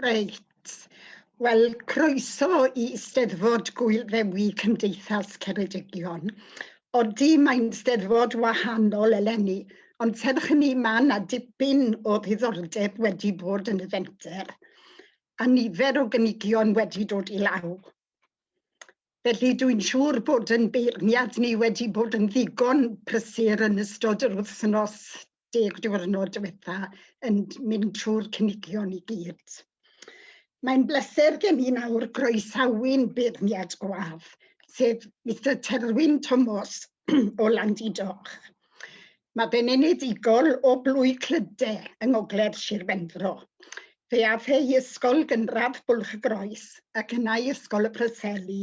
Reit. Wel, croeso i Steddfod Gwyl Ddewi Cymdeithas Ceredigion. Odi, mae'n Steddfod wahanol eleni, ond serch hynny mae yna dipyn o ddiddordeb wedi bod yn y fenter, a nifer o gynigion wedi dod i law. Felly, dwi'n siŵr bod yn beirniad ni wedi bod yn ddigon prysur yn ystod yr wythnos deg diwrnod diwetha yn mynd trwy'r cynigion i gyd. Mae'n bleser gen i nawr groesawu'n beirniad gwaf, sef Mister Terwyn Tomos o Landy Doch. Mae fe'n enedigol o Blwy Clyde yng ngogledd Sir Benfro. Fe ath e i ysgol gynradd Bwlch-y-groes ac yna i Ysgol y Preseli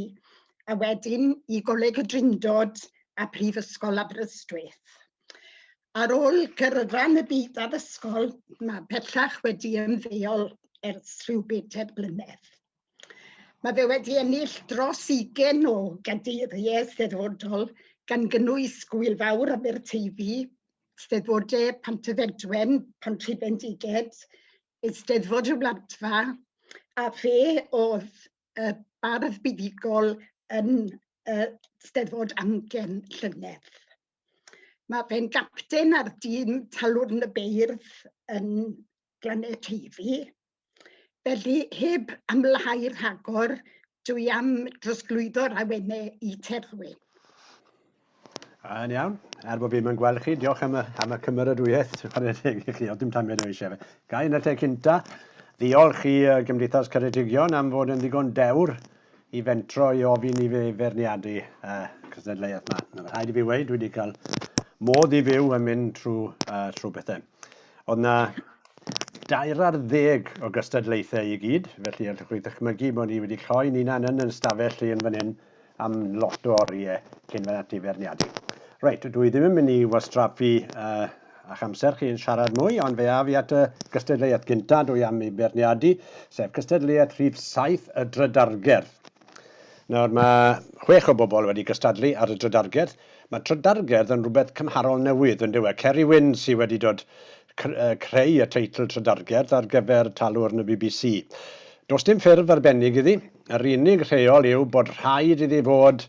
a wedyn i Goleg y Drindod a Phrifysgol Aberystwyth. Ar ôl gyrfa yn y byd addysgol, mae pellach wedi ymddeol ers rhyw bedair blynedd. Mae fe wedi ennill dros 20 o gadeiriau Eisteddfodol, gan gynnwys Gŵyl Fawr Aberteifi, Steddfodau Pantyfedwen, Pontybendiged, Eisteddfod y Wladfa, a fe oedd y bardd buddugol yn y Steddfod Amgen llynedd. Mae fe'n gapten ar dîm Talwrn y Beirdd yn Glannau Teifi. Felly, heb amlhau rhagor, dw i am drosglwyddo'r awenau i Terwy. Yn iawn. Er bod fi'n yn gweld chi, diolch am y, am y cymeradwyaeth. Chwarae teg i chi, oedd dim tamiad o eisiau fe. Gai yn y lle cynta, ddiolch i uh, Gymdeithas Ceredigion am fod yn ddigon dewr i fentro i ofyn i fi ferniadu uh, cystadleuaeth yma. Rhaid i fi wei, dwi wedi cael modd i fyw yn mynd trwy, uh, trwy bethau. Oedd na dair ar ddeg o gystadlaethau i gyd, felly allwch chi ddychmygu bod ni wedi lloi ni nan yn yn stafell lle yn fan hyn am lot o oriau cyn fan ati ferniadu. Reit, dwi ddim yn mynd i wastraffu uh, a'ch amser chi yn siarad mwy, ond fe af i at y gystadleuaeth gyntaf dwi am ei berniadu, sef cystadleuaeth rhif 7 y drydargerdd. Nawr, mae chwech o bobl wedi cystadlu ar y trydargerdd. Mae trydargerdd yn rhywbeth cymharol newydd, yn dyw e. Ceri Wyn sydd wedi dod creu y teitl trydargerdd ar gyfer talwrn y bbc. Does dim ffurf arbennig iddi, yr unig rheol yw bod rhaid iddi fod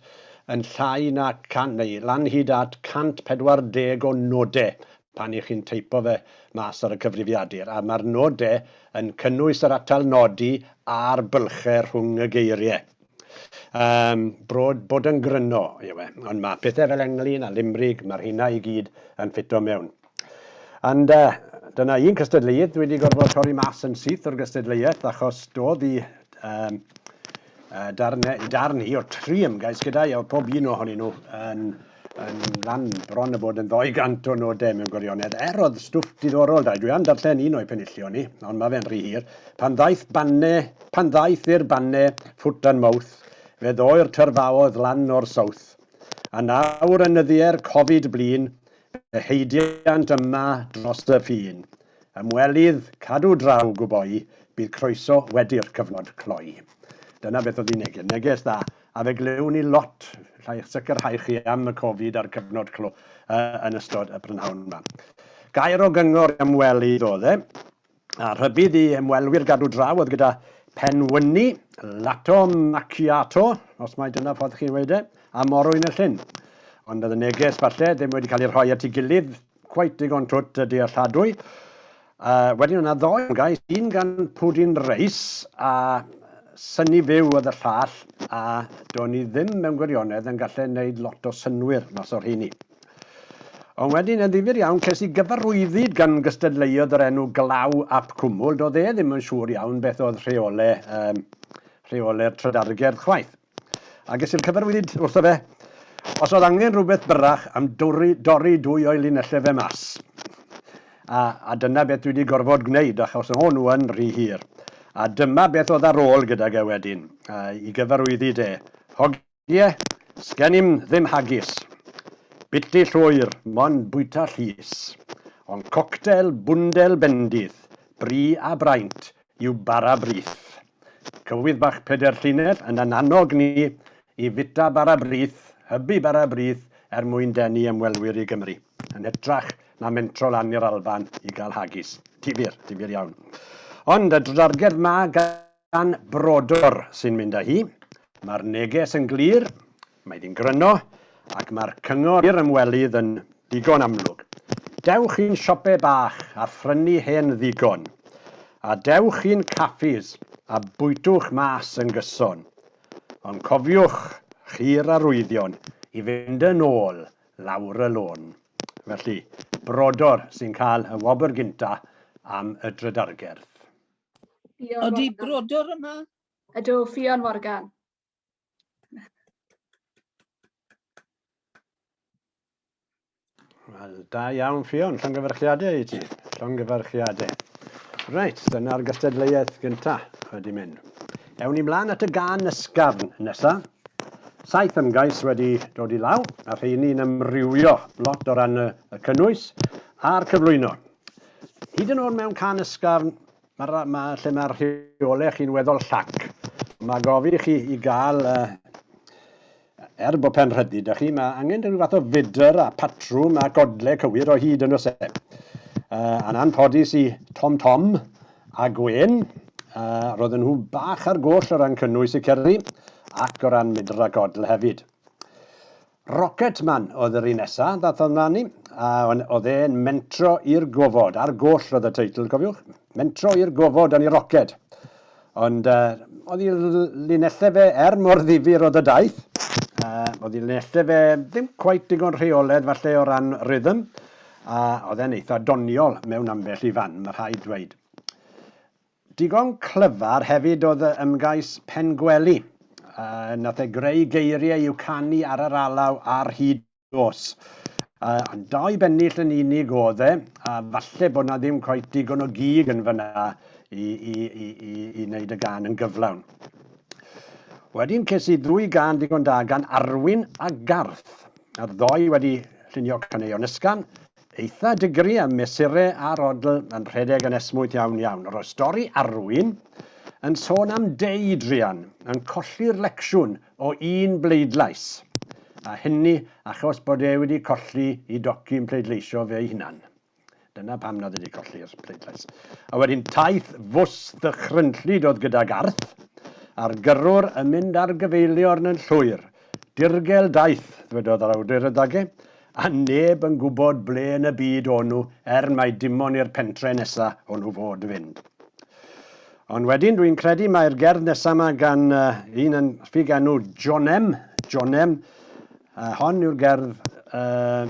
yn llai na 100 neu lan hyd at 140 o nodau pan y'ch chi'n teipo fe mas ar y cyfrifiadur, a mae'r nodau yn cynnwys yr atal nodi a'r bylchau rhwng y geiriau. Yym, brod bod yn gryno yw e, ond mae pethau fel englyn a limrig, mae'r rheina i gyd yn ffito mewn. And uh, dyna un cystadleuaeth dwi wedi gorfod torri mas yn syth o'r gystadleuaeth achos doedd i um, uh, darn, darn i o'r tri ymgais gyda'i a oedd pob un ohonyn nhw yn yn rhan bron o bod yn ddoi gant o nodau mewn gwirionedd, er oedd stwff diddorol da. Dwi am darllen un o'i penillion ni, ond mae fe'n rhy hir. Pan ddaeth banne, pan ddaeth i'r banne, foot and mouth, fe ddoi'r tyrfaodd lan o'r south. A nawr yn nyddiau'r Covid blin, fe heidiant yma dros y ffin. Ymwelydd, cadw draw, gwboi, bydd croeso wedi'r cyfnod cloi. Dyna beth oedd ei neges. Neges dda. A fe glywn ni lot, llai eich sicrhau chi am y Covid a'r cyfnod clo yn ystod y prynhawn yma. Gair o gyngor i ymwelydd oedd e, a rhybudd i ymwelwyr gadw draw oedd gyda penwyni, lato macchiato, os mai dyna ffordd chi'n weud e, a morwyn y llyn. Ond oedd y neges falle ddim wedi cael ei rhoi at ei gilydd quite digon twt a dealladwy. Uh, wedyn yna ddoi gais, un gan Pwdin Reis a syni fyw oedd y llall, a do'n i ddim mewn gwirionedd yn gallu gwneud lot o synwyr mas o'r rheini. Ond wedyn, yn ddifur iawn, ces i gyfarwyddyd gan gystadleuodd yr enw Glaw ap Cwmwl. Doedd e ddim yn siŵr iawn beth oedd rheole, um, rheole'r trydargerdd chwaith. A ges i'r cyfarwyddyd wrtho fe, os oedd angen rhywbeth byrrach am dorri, dorri dwy o'i linellau fe mas. A, a dyna beth dwi 'di gorfod gwneud, achos o'n nhw yn rhy hir. A dyma beth oedd ar ôl gydag e wedyn, i gyfarwyddi de. Hogie? Sgen i'm ddim hagis. Biti llwyr, mond bwyta llys. Ond coctel bwndel bendith, bri a braint, yw bara brith. Cywydd bach pedair llinell yn yn annog ni i fita bara brith, hybu bara brith er mwyn denu ymwelwyr i Gymru, yn hytrach na mentro lan i'r Alban i gael hagis. Difyr, difyr iawn. Ond y drdarged ma gan Brodor sy'n mynd â hi, mae'r neges yn glir, Mae hi'n gryno ac mae'r cyngor i'r ymwelydd yn ddigon amlwg. Dewch i'n siope bach a phrynu hen ddigon. A dewch i'n caffis a bwytwch mas yn gyson. Ond cofiwch chi'r arwyddion i fynd yn ôl lawr y lôn. Felly, brodor sy'n cael y wobr gynta am y drydargerdd. Ydy brodor yma? Ydw, Ffion Morgan. Wel, da iawn, Ffion. Llongyfarchiadau i ti. Llongyfarchiadau. Reit, dyna'r gystadleuaeth gyntaf wedi mynd. Ewn ni mlaen at y gan ysgafn nesaf. Saith ymgais wedi dod i law, a rheini'n ymrywio lot o ran y cynnwys a'r cyflwyno. Hyd yn oed mewn can ysgafn, Mae'r ra- ma, lle mae'r rheolau chi'n weddol llac. Mae gofi i chi i gael, uh, er bod pen rhydu da chi, mae angen rhyw fath o fydr a patrwm a godle cywir o hyd yn y se. Uh, a'n anffodus i Tom Tom a Gwen, uh, roedden nhw bach ar goll o ran cynnwys y cerddi ac o ran mydr a godl hefyd. Rocketman oedd yr un nesa, ddath o ymlaen ni, a oedd e'n mentro i'r gofod, ar goll oedd y teitl, cofiwch, mentro i'r gofod yn ei roced. Ond uh, oedd i linellau fe er mor ddifur oedd y daith, uh, oedd i linellau fe ddim cwaith digon rheoledd falle o ran rhythm, a oedd e'n eitha doniol mewn ambell i fan, mae rhaid dweud. Digon clyfar hefyd oedd y ymgais Pengwely. Yy, nath e greu geirie i'w canu ar yr alaw ar hyd nos. Yy, ond dau bennill yn unig oedd e, a falle bod 'na ddim cweit digon o gig yn fan'na i, i, i, i, i wneud y gan yn gyflawn. Wedyn ces i ddwy gan digon da gan Arwyn a Garth, a'r ddoe wedi llunio caneuon ysgan, Eitha digri a mesure a'r odl yn rhedeg yn esmwyth iawn iawn. Roedd stori Arwyn yn sôn am Dei druan yn colli'r lecsiwn o un bleidlais, a hynny achos bod e wedi colli i docyn pleidleisio fe'i hunan. Dyna pam nad ydi colli'r pleidlais. A wedyn taith fws ddychrynllyd oedd gyda Garth, a'r gyrrwr yn mynd ar gyfeiliorn yn llwyr, Dirgel daeth, ddwedodd yr awdur y dage, a neb yn gwybod ble yn y byd o'n nhw er mai dimon i'r pentre nesa o'n nhw fod fynd. Ond wedyn dwi'n credu mae'r gerdd nesa yma gan uh, un yn ffug enw Jonem, Jonem, uh, hon yw'r gerdd uh,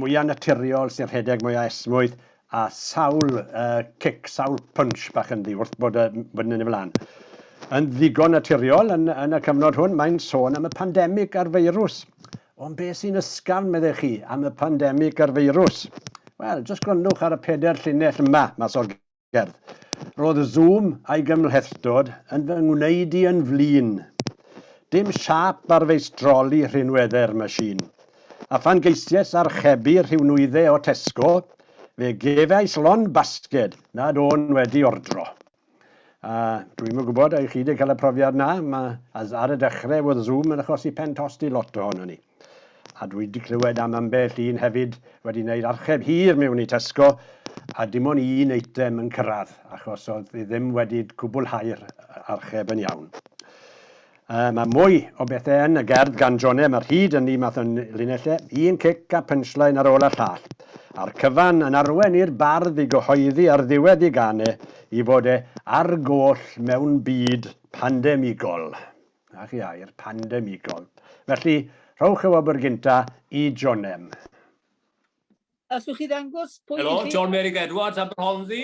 mwyaf naturiol sy'n rhedeg mwyaf esmwyth a sawl cic, sawl punch bach ynddi wrth bod yn mynd yn ei flaen. Yn ddigon naturiol yn, yn y cyfnod hwn, mae'n sôn am y pandemig a'r feirws. Ond be sy'n ysgafn, meddech chi, am y pandemig a'r feirws? Wel, jyst gwrandwch ar y peder llinell yma, mas o'r gerdd. Roedd y Zoom a'i gymhlethdod yn fy ngwneud i yn flin. Dim siâp ar feistroli rhinweddau'r machine. A phan geisiais archebu rhyw nwyddau o Tesco, fe gefais lond basged nad o'n wedi ordro. A dwi'm yn gwybod, a chi wedi cael y profiad na, mae ar y dechrau oedd Zoom yn achosi pen tost i lot ohono ni. A dwi wedi clywed am ambell un hefyd wedi gwneud archeb hir mewn i Tesco a dim ond un eitem yn cyrraedd achos oedd e ddim wedi cwblhau'r archeb yn iawn. Yy mae mwy o bethe yn y gerdd gan Jone, mae'r hud yn ddi math yn linelle, un cic a punchline ar ôl y llall. A'r cyfan yn arwen i'r bardd i gyhoeddi ar ddiwedd i gan e i fod e ar goll mewn byd pandemigol. Na chi air, pandemigol. Felly, rhowch y wobr gynta i Jonem. Allwch chi ddangos pwy Helo, John Mary Edwards, Aberhonddu.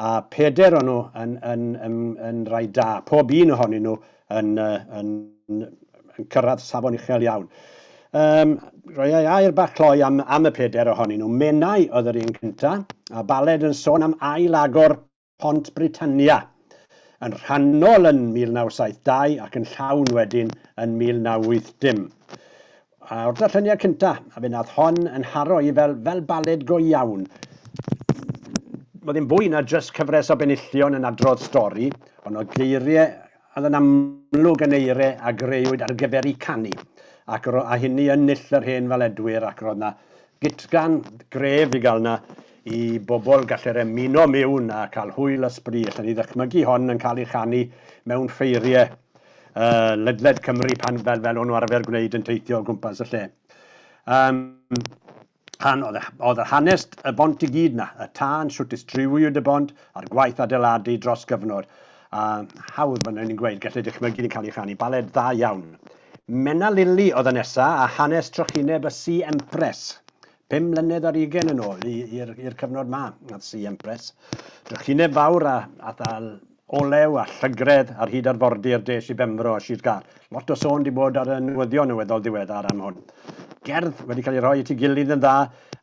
A phedair o'n nhw yn, yn, yn, yn rai da. Pob un ohonyn nhw yn, yn, yn cyrraedd safon uchel iawn. Um, roi ei air bach cloi am, am y peder ohonyn nhw. Menai oedd yr un cynta, a baled yn sôn am ail agor Pont Britannia yn rhannol yn 1972 ac yn llawn wedyn yn 1980. A o'r darlleniad cynta, a fe nath hon yn haro i fel, fel baled go iawn. Oedd e'n fwy na jyst cyfres o benillion yn adrodd stori, ond oedd geirie a oedd yn amlwg yn eire a greuwyd ar gyfer i canu, ac yr a hynny yn null yr hen faledwyr ac roedd na gutgan gref i gael na i bobl gallu'r emuno miwn a cael hwyl a sbri, allen i ddychmygu hon yn cael ei chanu mewn ffeirie uh, ledled Cymru pan fel, fel o'n nhw arfer gwneud yn teithio o gwmpas y lle. Um, han, oedd, oedd yr hanes y bont i gyd na, y tân, sut distriwiwyd y bont, a'r gwaith adeiladu dros gyfnod. A hawdd fan ni'n gweud, gallu dychmygu yn cael ei chanu, baled dda iawn. Menna Lili oedd y nesa a hanes trychineb y Si Empress. Pum mlynedd ar ugen yn ôl i'r cyfnod ma, ath Sian Press, drychineb fawr a ddal olew a llygredd ar hyd arfordir des i Benfro a Sir Gâr. Lot o sôn di bod ar y newyddion yn weddol ddiweddar am hwn. Gerdd wedi cael ei rhoi at ei gilydd yn dda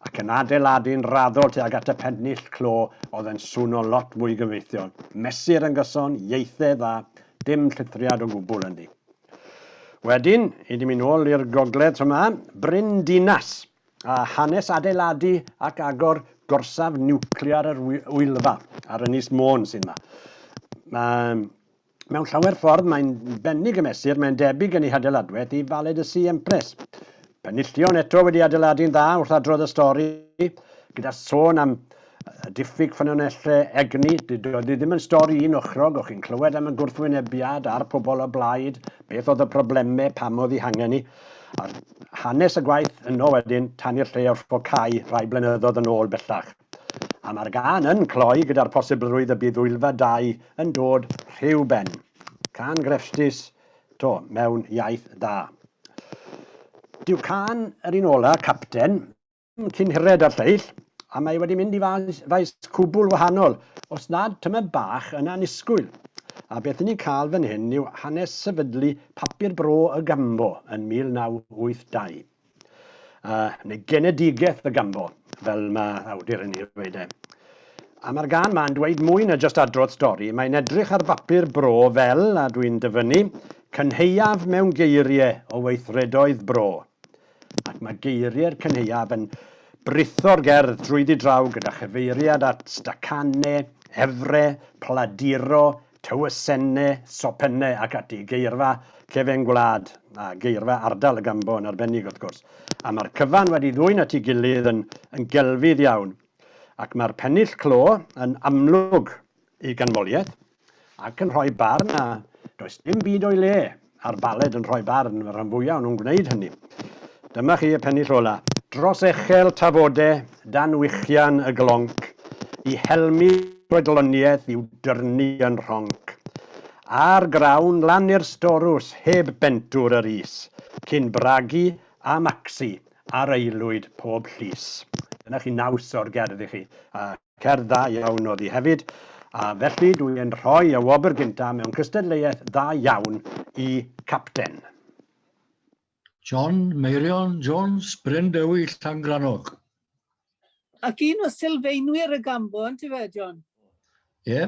ac yn adeiladu'n raddol tuag at y pennill clo oedd yn swno lot mwy gyfreithiol. Mesur yn gyson, ieithe dda, dim llithriad o gwbl ynddi. Wedyn, ydym yn ôl i'r gogledd tra mae Bryn Dinas, a hanes adeiladu ac agor gorsaf niwclear yr Wyddfa ar Ynys Môn sydd yma. Mae Mewn llawer ffordd mae'n bennig y mesur, mae'n debyg yn ei hadeiladwaith i Valed y Sea Empress. Penillion eto wedi adeiladu'n dda wrth adrodd y stori, gyda sôn am diffyg ffynonellau egni, doedd hi ddim yn stori un ochrog, o'ch chi'n clywed am y gwrthwynebiad a'r pobl o blaid, beth oedd y problemau, pam oedd hi hangen ni. A hanes y gwaith yno wedyn, tan i'r lle orffocau rhai blynyddoedd yn ôl bellach. A mae'r gân yn cloi gyda'r posibilrwydd y bydd Wyldfa 2 yn dod rhyw ben. Cân grefftus, To, mewn iaith da. Dyw cân yr un ola, Capten, ddim cyn hired â'r lleill, a mae wedi mynd i faes, faes cwbl wahanol, os nad tymed bach yn annisgwyl. A beth 'yn ni'n cael fan hyn yw hanes sefydlu Papur Bro y Gambo yn 1982. Uh, neu genedigaeth y gambo, fel mae awdur yn ei ddweud e. A mae'r gan ma'n dweud mwy na just adrodd stori, mae'n edrych ar bapur bro fel, a dwi'n dyfynnu, cynheuaf mewn geiriau o weithredoedd bro. Ac mae geiriau'r cynheuaf yn britho'r gerdd drwyddi draw gyda chyfeiriad at Stacane, Efre, Pladiro, Tywysenne, Sopenne ac ati, geirfa cefen gwlad a geirfa ardal y Gambo yn arbennig wrth gwrs, a mae'r cyfan wedi ddwyn at ei gilydd yn yn gelfydd iawn, ac mae'r pennill clo yn amlwg i ganmoliaeth, ac yn rhoi barn na does dim byd o'i le a'r baled yn rhoi barn, mae'r rhan fwyaf o nhw'n gwneud hynny. Dyma chi y pennill ola. Dros echel tafode, dan wichian y glonc, i helmu chwedloniaeth i'w dyrnu yn rhonc. Ar grawn lan i'r storws heb bentwr yr is, cyn bragu a macsi ar aelwyd pob llys. Dyna chi naws o'r gerdd i chi. Cerdd dda iawn oedd hi hefyd, a felly dw i yn rhoi y wobr gyntaf mewn cystadleuaeth dda iawn i Capten. John Meirion Jones, Bryn Dewi, Llangrannog. Ac un o sylfaenwyr y gambôn, ti fe, John? Ie.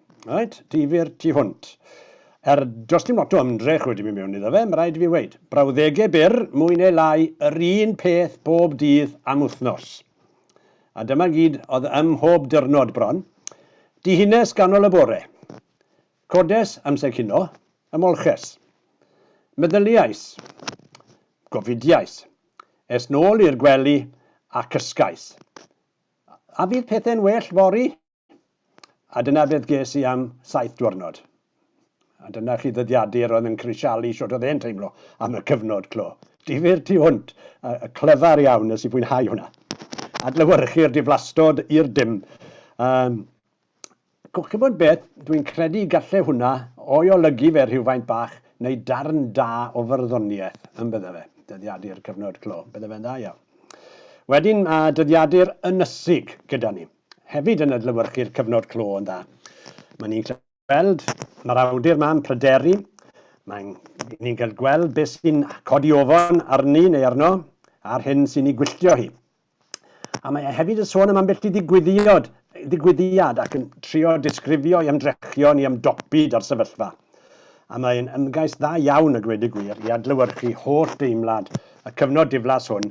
Reit, difyr tu hwnt. Er does dim lot o ymdrech wedi mynd mewn iddo fe, mae rhaid i fi weud. Brawddegau byr, mwy neu lai yr un peth bob dydd am wythnos. A dyma gyd oedd ym mhob dyrnod bron. Dihines ganol y bore. Codes amser cino. Ymolches. Meddyliais. Gofidiais. Es nôl i'r gwely a cysgais. A fydd pethau'n well fory? A dyna beth ges i am saith diwrnod. A dyna chi ddyddiadur oedd yn crisialu siwt oedd e'n teimlo am y cyfnod clo. Difyr tu hwnt, a clyfar iawn, nes i fwynhau hwnna. Adlewyrchu'r diflastod i'r dim. Um, Gwch chi bod beth, dwi'n credu galle hwnna o'i olygu fe rhywfaint bach, neu darn da o fyrddoniaeth, yn bydde fe, dyddiadu'r cyfnod clo, bydde fe'n dda iawn. Wedyn mae dyddiadur ynysig gyda ni. hefyd yn adlewyrchu'r cyfnod clo yn dda. Mae ni'n gweld, mae'r awdur ma'n pryderu, mae'n ni'n cael gweld beth sy'n codi ofon arni neu arno, a'r hyn sy'n ei gwylltio hi. A mae e hefyd yn sôn am ambell i ddigwyddiad, ddigwyddiad ac yn trio disgrifio i ymdrechion i ymdopi da'r sefyllfa. A mae'n ymgais dda iawn y gwed y gwir i adlewyrchu holl deimlad y cyfnod diflas hwn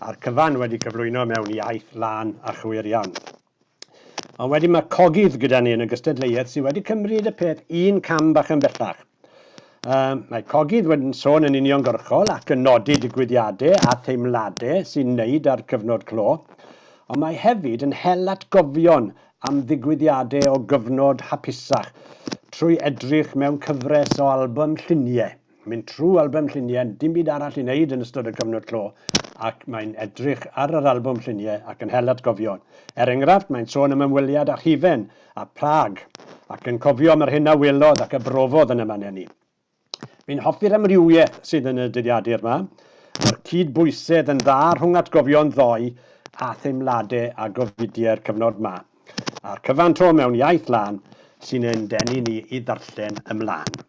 a'r cyfan wedi cyflwyno mewn iaith lân a chywir iawn. Ond wedyn mae cogydd gyda ni yn y gystadleuaeth sydd wedi cymryd y peth un cam bach yn bellach. Um, mae cogydd wedi'n sôn yn uniongyrchol ac yn nodi digwyddiadau a theimladau sy'n wneud â'r cyfnod clo, ond mae hefyd yn hel atgofion am ddigwyddiadau o gyfnod hapusach trwy edrych mewn cyfres o albwm lluniau. Mynd trwy albym lluniau, dim byd arall i wneud yn ystod y cyfnod clo, ac mae'n edrych ar yr albwm lluniau ac yn hel atgofion. Er enghraifft, mae'n sôn am ymweliad â hufen a Prâg, ac yn cofio am yr hyn a welodd ac a brofodd yn y man eni. Fi'n hoffi'r amrywiaeth sydd yn y dyddiadur 'ma. Mae'r cyd-bwysedd yn dda rhwng atgofion ddoe a theimlade a gofidie'r cyfnod 'ma, a'r cyfan 'to mewn iaith lân sy'n ein denu ni i ddarllen ymlân.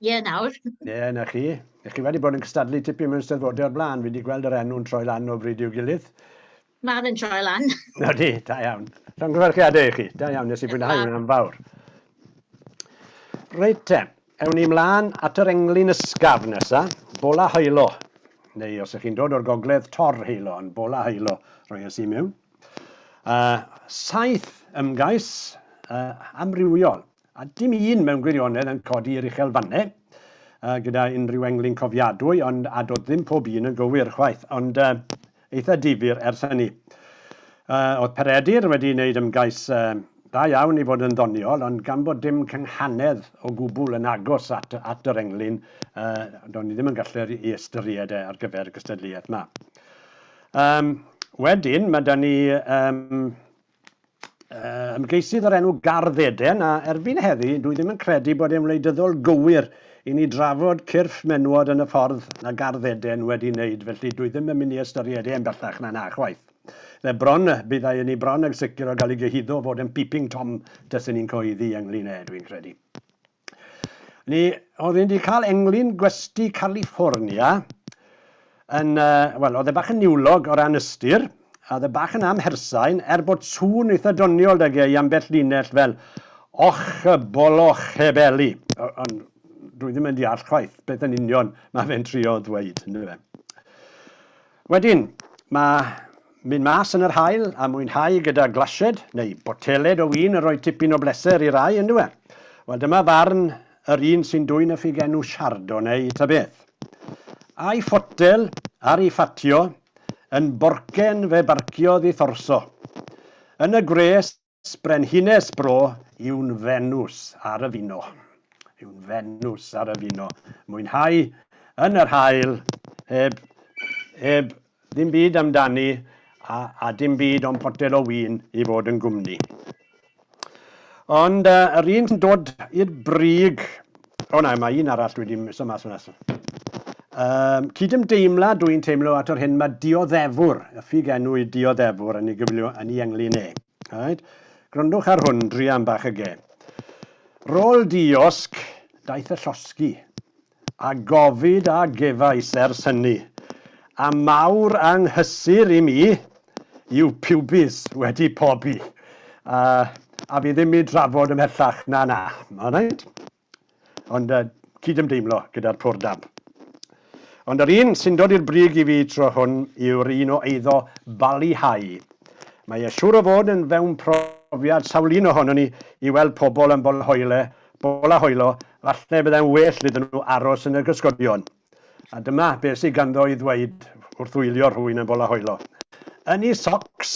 Ie, nawr. Ie, 'na chi. Ych chi wedi bod yn cystadlu tipyn mewn Steddfodau o'r blaen? Fi wedi gweld yr enw'n troi lan o bryd i'w gilydd. Mae fe'n troi lan. Ydy, da iawn. Llongyfarchiadau i chi. Da iawn, nes i fwynhau hwnna yn fawr. Reit te, ewn ni mlaen at yr englyn ysgaf nesa, Bola Haelo. Neu os ych chi'n dod o'r gogledd, Tor Haelo, ond Bola Haelo roi as i mewn. Uh, saith ymgais uh, amrywiol. A dim un mewn gwirionedd yn codi i'r uchel fannau uh, gyda unrhyw englyn cofiadwy, ond a dod ddim pob un yn gywir chwaith, ond uh, eitha difyr ers hynny. Uh, oedd Peredur wedi wneud ymgais uh, da iawn i fod yn ddoniol, ond gan bod dim cynghanedd o gwbl yn agos at, at yr englyn, uh, do'n i ddim yn gallu ei ystyried e ar gyfer y gystadleuaeth yma. Um, wedyn, mae da ni um, ymgeisydd o'r enw Gardd Eden, a erbyn heddi, dwi ddim yn credu bod e'n wleidyddol gywir i ni drafod cyrff menywod yn y ffordd mae Gardd Eden wedi wneud, felly dwi ddim yn mynd i ystyried e'n bellach na 'na chwaith. Fe bron, byddai yn i bron ag sicr o gael ei gyhuddo o fod yn Peeping Tom taswn i'n cyhoeddi ynglŷn â e, dwi'n credu. Ni oedd wedi cael englyn gwesty California yn, wel, oedd e bach yn niwlog o ran ystyr, a oedd e bach yn amhersain, er bod sŵn eitha doniol da ge i ambell linell fel Och y bolo chebeli. Ond dwi ddim yn deall chwaith beth yn union mae fe'n trio ddweud, yndyfe. Wedyn, mae mynd mas yn yr haul a mwynhau gyda glasied neu boteled o win yn rhoi tipyn o bleser i rai, yn dyw e? Wel, dyma farn yr un sy'n dwyn y ffug enw Chardonnay ta beth. A'i photel ar ei ffatio yn borcen fe barciodd i Thorso. Yn y gwres Sbrenhines bro yw'n Fenws ar y fino. Yw'n Fenws ar y fino. Mwynhau yn yr haul heb, heb ddim byd amdani a, a dim byd o'n potel o win i fod yn gwmni. Ond uh, yr un sy'n dod i'r brig O na, mae un arall dwi wedi miso mas fan asl. Um, cydymdeimla dw i'n teimlo at o'r hyn mae dioddefwr, y ffug enw i dioddefwr yn ei gyflio yn ei englyn e. Right? Grondwch ar hwn, dri am bach y ge. Rôl diosg, daeth y llosgi, a gofid a gefais ers hynny, a mawr anghysur i mi, yw pubis wedi pobi. A, a fi ddim i drafod ymhellach, na na, alright? Ond uh, cydymdeimlo gyda'r pwr dab. Ond yr un sy'n dod i'r brig i fi tro hwn yw'r un o eiddo balihau. Mae e siŵr o fod yn fewn profiad sawl un ohono ni i weld pobl yn bolahoile, bolahoilo, falle byddai'n well iddyn nhw aros yn y gysgodion. A dyma beth sydd ganddo i ddweud wrth wylio rhywun yn bola hoelo. Yn ei socs!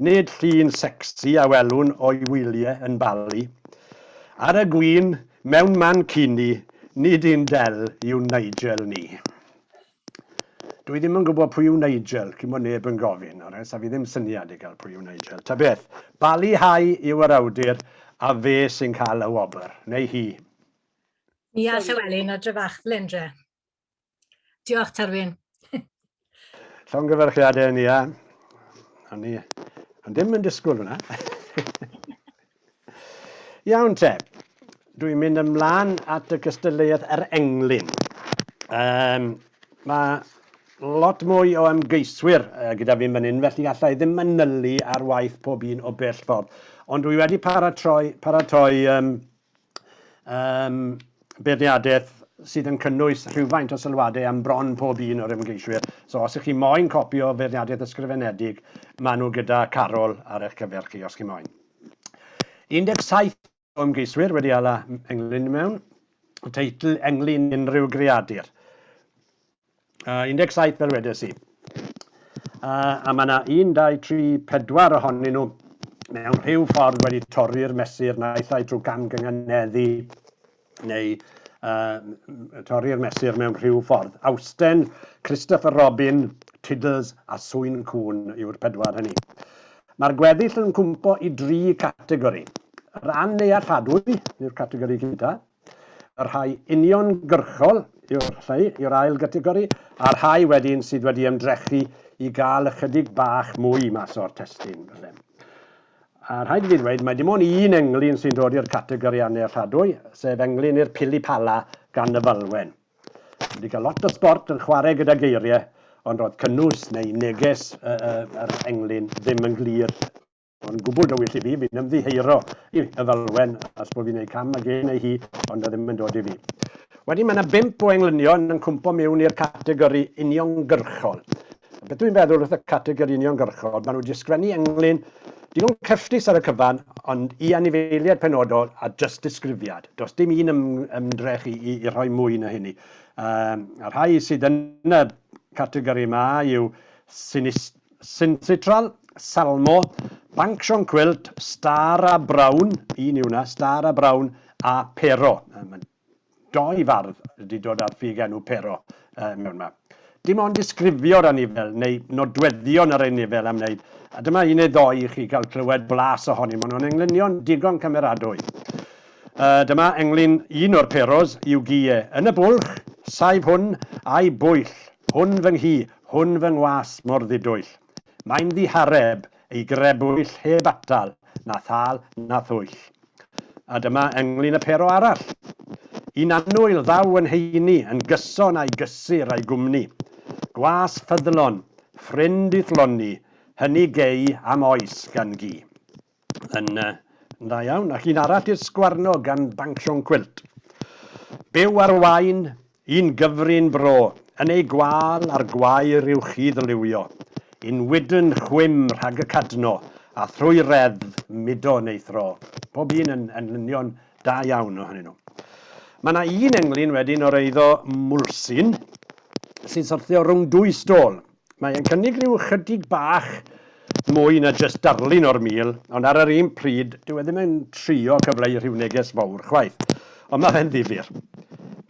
Nid llun secsi a welwn o'i wylie yn Bali. Ar y gwin, mewn mancini, nid un del yw Nigel ni. Dwi ddim yn gwybod pwy yw Nigel, cyn bod neb yn gofyn, alright, sa fi ddim syniad i gael pwy yw Nigel. Ta beth, Bali High yw yr awdur a fe sy'n cael y wobr, neu hi. Ia, Sorry. Llywelyn a Dryfach, Lendre. Diolch, Tarwyn. Llongyfarchiadau ni, ia. O'n ni o'n ddim yn disgwyl hwnna. Iawn te, dwi'n mynd ymlaen at y cystadleuaeth yr englyn. Um, mae lot mwy o ymgeiswyr uh, gyda fi'n fan hyn, felly allai ddim manylu ar waith pob un o bell ffordd. Ond dwi wedi paratoi, paratoi um, Yym, beirniadaeth sydd yn cynnwys rhywfaint o sylwadau am bron pob un o'r ymgeiswyr. So, os ych chi moyn copi o feirniadaeth ysgrifenedig, maen nhw gyda Carol ar eich cyfer chi, os chi moyn. 17 o ymgeiswyr wedi ala englyn mewn teitl englyn unrhyw greadur. Uh, 17 fel wedes i. Uh, a mae yna 1, 2, 3, 4 ohonyn nhw mewn rhyw ffordd wedi torri'r mesur naill ai drwy gamgynganeddu neu uh, torri'r mesur mewn rhyw ffordd. Austen, Christopher Robin, Tiddles a Swyn Cwn yw'r pedwar hynny. Mae'r gweddill yn cwmpo i dri categori. Yr annealladwy yw'r categori gyntaf, Y rhai uniongyrchol yw'r rhai yw'r ail gategori, a'r rhai wedyn sydd wedi ymdrechu i gael ychydig bach mwy mas o'r testun, falle. A rhaid i fi ddweud, mae dim ond un englyn sy'n dod i'r categori annealladwy, sef englyn i'r Pili Pala gan y Falwen. Dwi wedi cael lot o sbort yn chwarae gyda geiriau, ond roedd cynnwys neu neges yr englyn ddim yn glir. Yn gwbl dywyll i fi, fi'n ymddiheuro i Y Falwen os bo fi'n neud cam ag e neu hi, ond 'na ddim yn dod i fi. Wedyn ma' 'na bump o englynion yn cwmpo miwn i'r categori uniongyrchol. Beth dw i'n feddwl wrth y categori uniongyrchol, ma' nhw 'di sgwennu englyn digon cyffrous ar y cyfan, ond i anifeiliaid penodol a jyst disgrifiad. Does dim un ym, ymdrech i, i, i rhoi mwy na hynny. Um, a rhai sydd yn y categori yma yw sinist, Synthitral, Salmo, Banc Siôn Cwilt, Star a Brown, un yw hwnna, Star a Brown, a Pero. Mae doi fardd wedi dod â'r ffug enw Pero mewn yma. Dim ond disgrifio'r anifail neu nodweddion yr anifail am wneud, a dyma un neu ddoi i chi gael clywed blas ohoni. Maen nhw'n englynion digon cymeradwy. Dyma englyn un o'r Peros, i'w gie, yn y bwlch, saif hwn, a'i bwyll, hwn fy nghi, Hwn fy ngwas mor ddidwyll. Mae'n ddihareb ei grebwyll heb atal na thâl na thwyll. A dyma englyn y pero arall. Un annwyl ddaw yn heini yn gyson a'i gysur a'i gwmni. Gwas ffyddlon, ffrind i'th lonni, hynny gei am oes gan gi. Yn uh, yn dda iawn. Ac un arall i'r sgwarno gan Banc Siôn Cwilt. Byw ar wain, un gyfrin bro, yn ei gwal ar gwair i'w chi ddylywio. Yn wydn chwim rhag y cadno, a thrwy reddf mudo yn ei thro. Bob un yn enlynion da iawn ohonyn nhw. Mae yna un englyn wedyn o'r eiddo Mwlsyn sy'n syrthio rhwng dwy stôl. Mae e'n cynnig rhyw ychydig bach mwy na jyst darlun o'r Mil, ond ar yr un pryd, dyw e ddim yn trio cyfleu rhyw neges fawr chwaith. Ond mae fe'n ddifyr.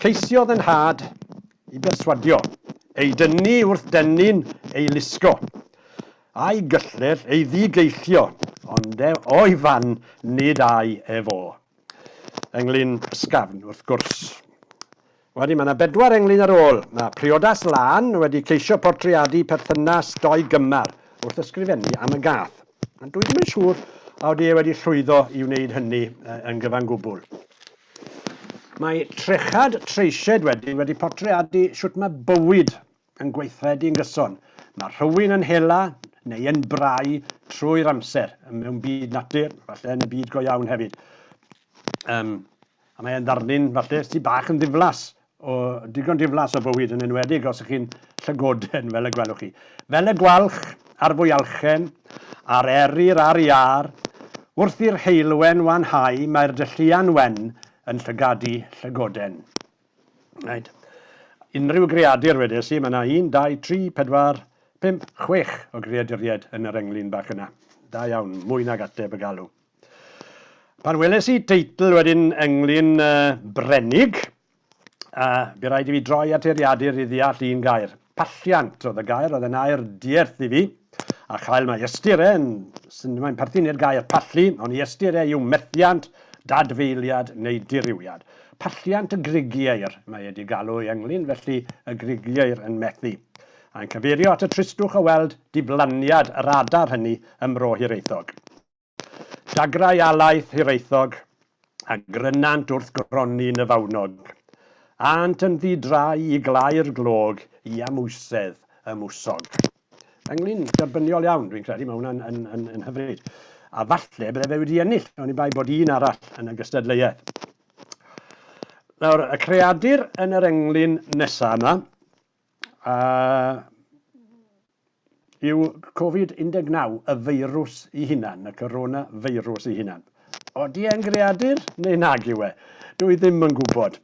Ceisiodd 'y nhad i berswadio ei dyni wrth dennyn ei lusgo, a'i gyllell ei ddi-geillio, ond e o'i fan, nid ai e fo. Ynglŷn ysgafn, wrth gwrs. Wedyn, mae yna bedwar englyn ar ôl. Mae priodas Lân wedi ceisio portreadu perthynas dou gymar wrth ysgrifennu am y gath, ond dwi ddim yn siŵr a odi e wedi llwyddo i wneud hynny yn gyfan gwbl. Mae Trechad Treisied wedyn wedi portreadu sut mae bywyd yn gweithredu yn gyson. Mae rhywun yn hela neu yn brau trwy'r amser mewn byd natur, falle yn y byd go iawn hefyd. Um, a mae'n ddarlun falle sy'n bach yn ddiflas, o digon diflas o bywyd yn enwedig os ych chi'n llygoden fel y gwelwch chi. Fel y gwalch ar fwyalchen, a'r eryr ar iar, wrth i'r heulwen wanhau mae'r dylluan wen yn llygadu llygoden. Reit. Unrhyw greadur, wedes i, mae yna un, dau, tri, pedwar, pump, chwech o greaduriaid yn yr englyn bach yna. Da iawn, mwy nag ateb y galw. Pan weles i teitl wedyn englyn uh, Brenig, a bu rhaid i fi droi at eiriadur i ddeall un gair. Palliant oedd y gair, oedd e'n air dierth i fi, a chael mae ystyr e yn, sy'n, mae'n perthyn i'r gair pallu, ond i ystyr e yw methiant, dadfeiliad neu dirywiad. Palliant y Grigieir mae e 'di galw ei ynglŷn, felly y Grigieir yn methu. Mae'n cyfeirio at y tristwch o weld diflaniad yr adar hynny ym Mro Hiraethog. Dagrau alaeth Hiraethog, a grynant wrth gronni yn y fawnog. Ânt yn ddi-drai i glau'r glog i amwysedd y mwsog. Englyn derbyniol iawn, dwi'n credu, mae hwnna'n yn, yn, yn hyfryd. A falle bydde fe wedi ennill, oni bai bod un arall yn y gystadleuaeth. Nawr, y creadur yn yr englyn nesaf yma, a Yw Covid 19 y feirws i hunan, y corona feirws i hunan? Odi e'n greadur neu nag yw e? Dw i ddim yn gwybod.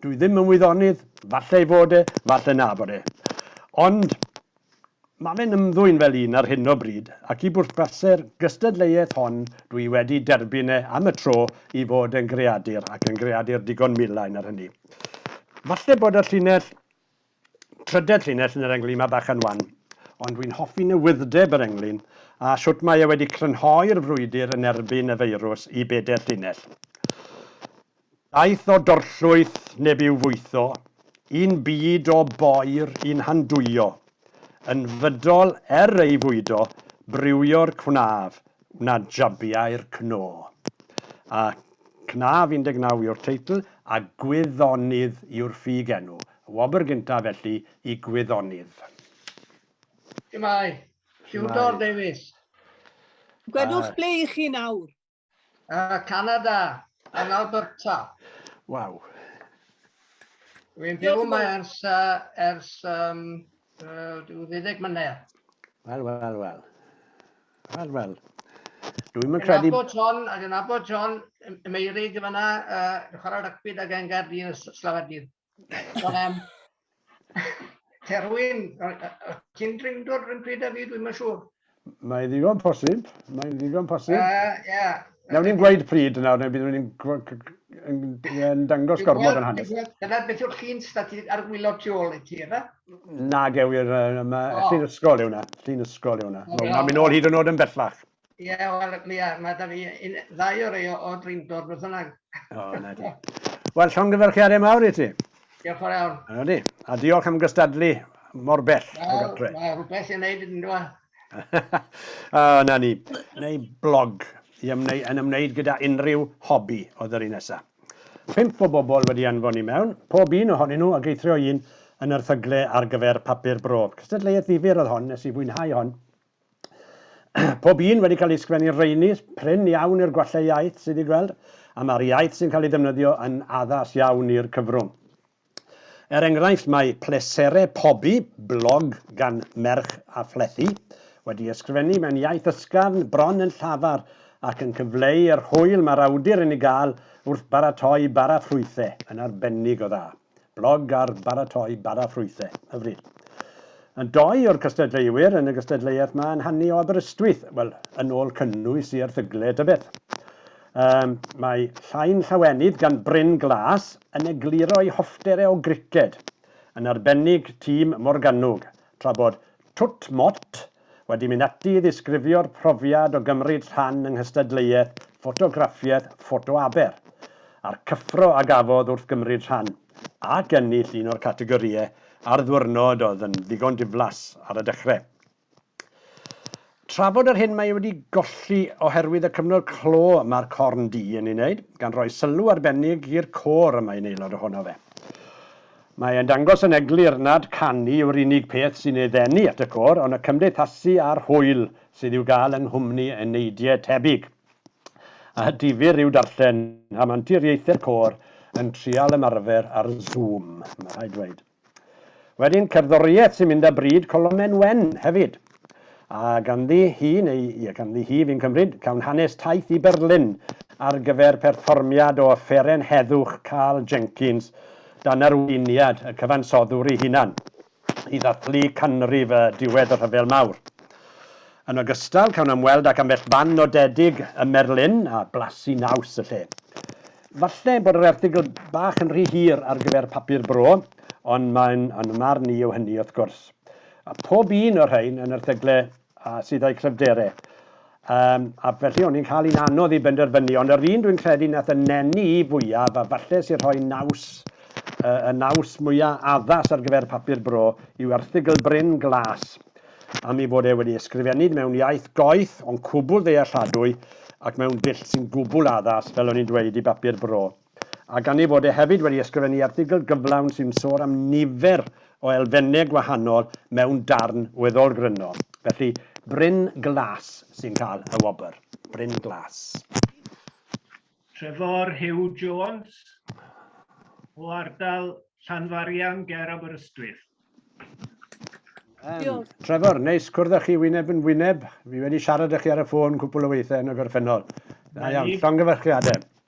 Dw i ddim yn wyddonydd, falle ei fod e, falle na bod e. Ond mae fe'n ymddwyn fel un ar hyn o bryd, ac i bwrpasau'r gystadleuaeth hon dw i wedi derbyn e am y tro i fod yn greadur, ac yn greadur digon milain ar hynny. Falle bod y llinell Trydedd llinell yn yr englyn mae bach yn wan, ond dwi'n hoffi newydd'deb yr englyn a shwt mae e wedi crynhoi'r frwydr yn erbyn y feirws i bedair llinell. Daeth o dorllwyth neb i'w fwytho, un byd o boer i'n handwyo, yn fydol er ei fwydo, brywio'r cwnaf, wna jabiau'r cno. A Cnaf 19 yw'r teitl a Gwyddonydd yw'r ffug enw. Y wobr gyntaf felly i gwyddonydd. Shwmae. Siwdor Davies. Gwedwch ble i chi nawr. Yy Canada, yn Alberta. Waw. Dwi'n byw yma ers, uh, ers um, uh, 20 mlynedd. Wel, wel, wel. Wel, wel. Dwi'n mynd credu... Nabod John, ac yn nabod John, Meirig yn fyna, uh, chwarae rygbi da gen Gaerdydd, Slafadydd. Terwyn, ti'n drindod rhywun pryd a fi, dwi'n siŵr. Mae'n ddigon posib, mae'n ddigon posib. Uh, yeah. Newn ni'n gweud pryd nawr, neu byddwn ni'n dangos gormod yn hanes. Dyna beth yw'r llun stati ar wylo tu ôl i ti, yna? Na, gewir, mae llun ysgol yw yna, llun ysgol yw yna. Mae'n mynd ôl hyd yn oed yn bellach. Ie, yeah, wel, Mia, mae da fi un, ddau o rei o Drindor, beth yna. O, oh, na di. Wel, llongyfarchiadau mawr i ti. Diolch o'r iawn. Ydy, a diolch am gystadlu mor bell o gartre. Mae rhywbeth i'n neud yn dweud. o, na ni. Neu blog i ymwneud, yn ymwneud gyda unrhyw hobi oedd yr un nesaf. Pimp o bobl wedi anfon i mewn, pob un ohonyn nhw ag eithrio un yn erthygle ar gyfer papur bro. Cystadleuaeth ddifur oedd hon, nes i fwynhau hon. Pob un wedi cael ei sgwennu rheini, prin iawn i'r gwallau iaith sydd i gweld, a mae'r iaith sy'n cael ei defnyddio yn addas iawn i'r cyfrwng. Er enghraifft, mae Pleserau Pobi, blog gan merch a phlethu, wedi ysgrifennu mewn iaith ysgafn, bron yn llafar, ac yn cyfleu yr hwyl mae'r awdur yn ei gael wrth baratoi bara ffrwythau, yn arbennig o dda. blog ar baratoi bara ffrwythau, hyfryd. Yn doi o'r cystadleuwyr yn y gystadleuaeth ma yn hannu o Aberystwyth, wel, yn ôl cynnwys i erthygle tybed. Um, mae llain llawenydd gan Bryn Glas yn egluro'i hofftere o griced, yn arbennig tîm Morgannwg, tra bod Twt Mott wedi mynd ati i ddisgrifio'r profiad o gymryd rhan yng nghystadleuaeth ffotograffiaeth Ffoto Aber, a'r cyffro a gafodd wrth gymryd rhan ac ennill un o'r categorïau ar ddiwrnod oedd yn ddigon diflas ar y dechrau. Trafod yr hyn mae ei wedi golli oherwydd y cyfnod clo mae'r Corn Du yn ei wneud, gan roi sylw arbennig i'r côr y mae'n aelod ohono fe. Mae e'n dangos yn eglur nad canu yw'r unig peth sy'n ei ddenu at y côr, ond y cymdeithasu a'r hwyl sydd i'w gael yng nghwmni eneidiau tebyg. A difyr yw darllen am anturiaethau'r côr yn trial ymarfer ar Zoom, mae rhaid dweud. Wedyn, cerddoriaeth sy'n mynd â bryd, colonnau wen hefyd. A ganddi hi, neu ie, ganddi hi fi'n cymryd, cawn hanes taith i Berlin ar gyfer perfformiad o Offeren Heddwch Karl Jenkins dan arweiniad y cyfansoddwr ei hunan, i ddathlu canrif y diwedd y Rhyfel Mawr. Yn ogystal, cawn ymweld ac ambell fan nodedig ym Merlin a blasu naws y lle. Falle bod yr erthygl bach yn rhy hir ar gyfer papur bro, ond mae'n, yn fy marn i, yw hynny wrth gwrs. A phob un o'r rhain yn erthygle a sydd a'u cryfdere. Yym, a felly o'n i'n cael un anodd i benderfynu, ond yr un dwi'n credu nath y neni i fwyaf, a falle sy'n rhoi naws, yy, y naws mwya addas ar gyfer Papur Bro, yw erthygl Bryn Glas, am ei fod e wedi ysgrifennid mewn iaith goeth, ond cwbwl ddealladwy, ac mewn dull sy'n gwbwl addas, fel o'n i'n dweud, i Bapur Bro. a gan ei fod e hefyd wedi ysgrifennu erthygl gyflawn sy'n sôn am nifer o elfennau gwahanol mewn darn weddol gryno. Felly, Bryn Glas sy'n cael y wobr. Bryn Glas. Trefor Huw Jones o ardal Llanfarian ger Aberystwyth. Um, Trevor, neis cwrdd â chi wyneb yn wyneb. Fi wedi siarad â chi ar y ffôn cwpl o weithiau yn y gorffennol. Da iawn, llongyfarchiadau.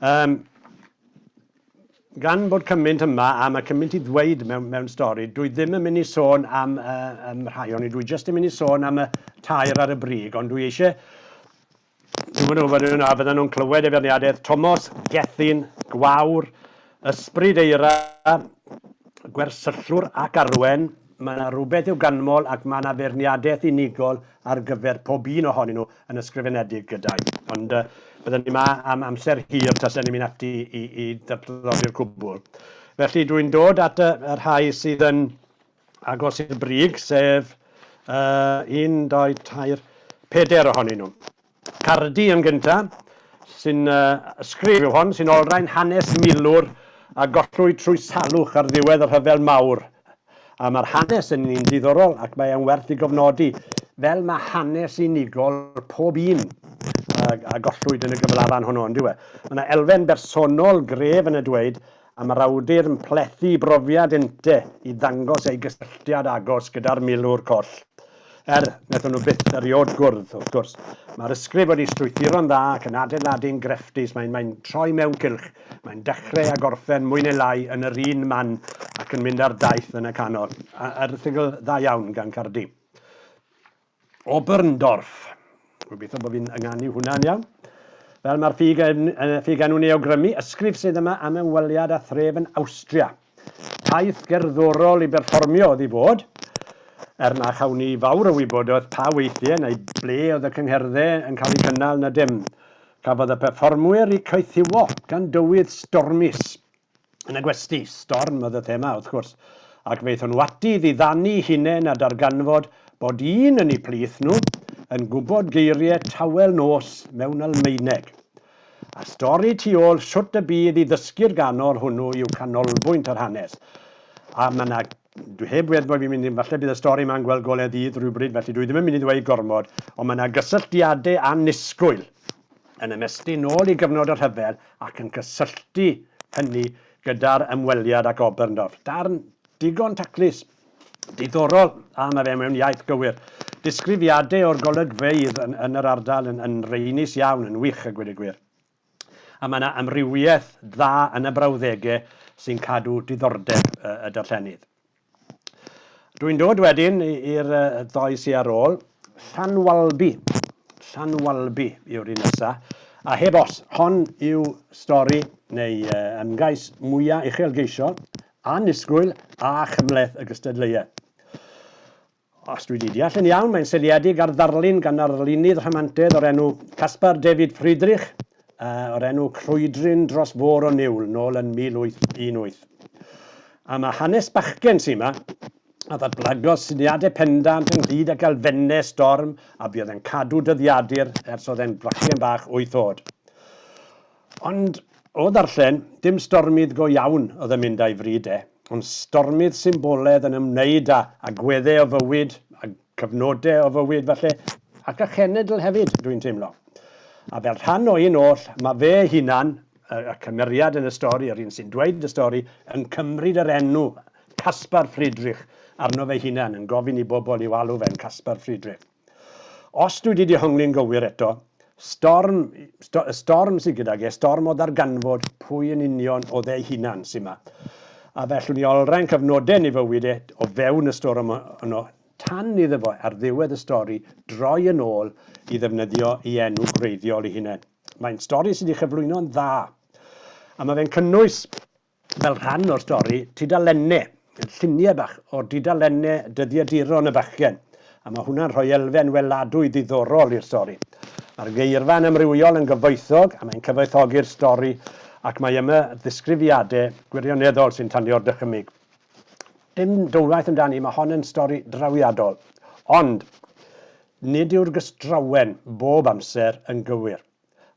Yym, gan bod cymaint yma a mae cymaint i ddweud mewn, mewn stori, dwi ddim yn mynd i sôn am uh, um, rhai ond dwi jyst yn mynd i sôn am y tair ar y brig, ond dwi eisiau Dwi'n meddwl fydden nhw'n clywed efo ni adedd Tomos, Gethin, Gwawr, Ysbryd eira, gwersyllwr ac arwen, mae yna rywbeth i'w ganmol ac mae yna feirniadaeth unigol ar gyfer pob un ohonyn nhw yn ysgrifenedig gyda i. Ond uh, bydden ni yma am amser hir tasen ni'n mynd ati i, i ddatblygu'r cwbl. Felly dwi'n dod at y, y rhai sydd yn agos i'r brig, sef uh, un, doi, tair, peder ohonyn nhw. Cardi yn gynta, sy'n ysgrif yw hon, sy'n olrhain hanes milwr a gollwyd trwy salwch ar ddiwedd y Rhyfel Mawr. A mae'r hanes yn un diddorol ac mae e'n werth ei gofnodi, fel mae hanes unigol pob un a gollwyd yn y gyflafan honno, yndyw e? Mae 'na elfen bersonol gref yn y dweud a mae'r awdur yn plethu brofiad Ente i ddangos ei gysylltiad agos gyda'r milwr coll. Er, wnaethon nhw byth erioed gwrdd, wrth gwrs. Mae'r ysgrif wedi strwythuro'n dda ac yn adeiladu'n grefftus, mae'n mae'n troi mewn cylch, mae'n dechrau a gorffen mwy neu lai yn yr un man ac yn mynd ar daith yn y canol. Erthygl dda iawn gan Cardi. Oberndorf. Gobeithio bod fi'n ynganu hwnna'n iawn. Fel mae'r ffug yn, ffug enw'n ei awgrymu, ysgrif sydd yma am ymweliad â thref yn Awstria. Taith gerddorol i berfformio oedd i fod, er na chawn i fawr o wybodaeth pa weithiau neu ble oedd y cyngherddau yn cael eu cynnal na dim. Cafodd y perfformwyr eu caethiwo gan dywydd stormus, Yn y gwesty, storm oedd y thema, wrth gwrs, ac fe aethon nhw ati i ddiddanu'u hunain a darganfod bod un yn eu plith nhw yn gwybod geiriau tawel nos mewn Almaeneg. A'r stori tu ôl shwt y bydd i ddysgu'r ganol hwnnw yw canolbwynt yr hanes, a mae 'na Dwi heb wedd bo i fi'n mynd hyn, falle bydd y stori ma'n gweld gole dydd rhywbryd felly dwi ddim yn mynd i ddweud gormod, ond mae 'na gysylltiade annisgwyl yn ymestyn nôl i gyfnod y rhyfel ac yn cysylltu hynny gyda'r ymweliad ac Oberndorf. Darn digon taclus, diddorol a mae fe mewn iaith gywir. Disgrifiade o'r golygfeydd yn yn yr ardal yn yn reynus iawn, yn wych a gwed y gwir. A mae yna amrywiaeth dda yn y brawddegau sy'n cadw diddordeb y darllenydd. Dwi'n dod wedyn i'r ddoi sy ar ôl. Llanwalbi. Llanwalbi yw'r un nesaf. A heb os, hon yw stori neu ymgais mwyaf uchelgeisiol, annisgwyl a chymhleth y gystadleuaeth. Os dwi 'di deall yn iawn, mae'n seiliedig ar ddarlun gan arlunydd rhamantedd o'r enw Caspar David Friedrich o'r enw Crwydryn dros Fôr o Niwl, nôl yn 1818. A mae hanes bachgen sy' 'ma, a ddatblygodd syniadau pendant ynghyd ag elfennau storm a fuodd e'n cadw dyddiadur ers oedd e'n fachgen bach wyth oed. Ond, o ddarllen, dim stormydd go iawn oedd yn mynd â'i fryd e, ond stormydd symboledd yn ymwneud â agweddau o fywyd, a cyfnodau o fywyd falle, ac â chenedl hefyd, dwi'n teimlo. A fel rhan o un oll, mae fe'i hunan, y cymeriad yn y stori, yr un sy'n dweud y stori, yn cymryd yr enw Caspar Friedrich arno fe'i hunan, yn gofyn i bobl i'w alw fe'n Caspar Friedrich. Os dwi 'di dehongli'n gywir eto, storm, sto, y storm sydd gydag e, storm o ddarganfod pwy yn union oedd ei hunan sy'n ma. A fellwn ni olrhain cyfnodau yn ei fywyd e o fewn y storm yno, tan iddo fo ar ddiwedd y stori droi yn ôl i ddefnyddio ei enw gwreiddiol ei hunain. Mae'n stori sydd wedi chyflwyno'n dda, a mae fe'n cynnwys fel rhan o'r stori, tudalenne, llunie bach o dudalenne dyddiaduron y bachgen, a mae hwnna'n rhoi elfen weladwy ddiddorol i'r stori. Mae'r geirfa'n amrywiol yn gyfoethog a mae'n cyfoethogi'r stori ac mae yma ddisgrifiade gwirioneddol sy'n tanio'r dychymyg. Dim dwywaith amdani, mae hon yn stori drawiadol, ond nid yw'r gystrawen bob amser yn gywir.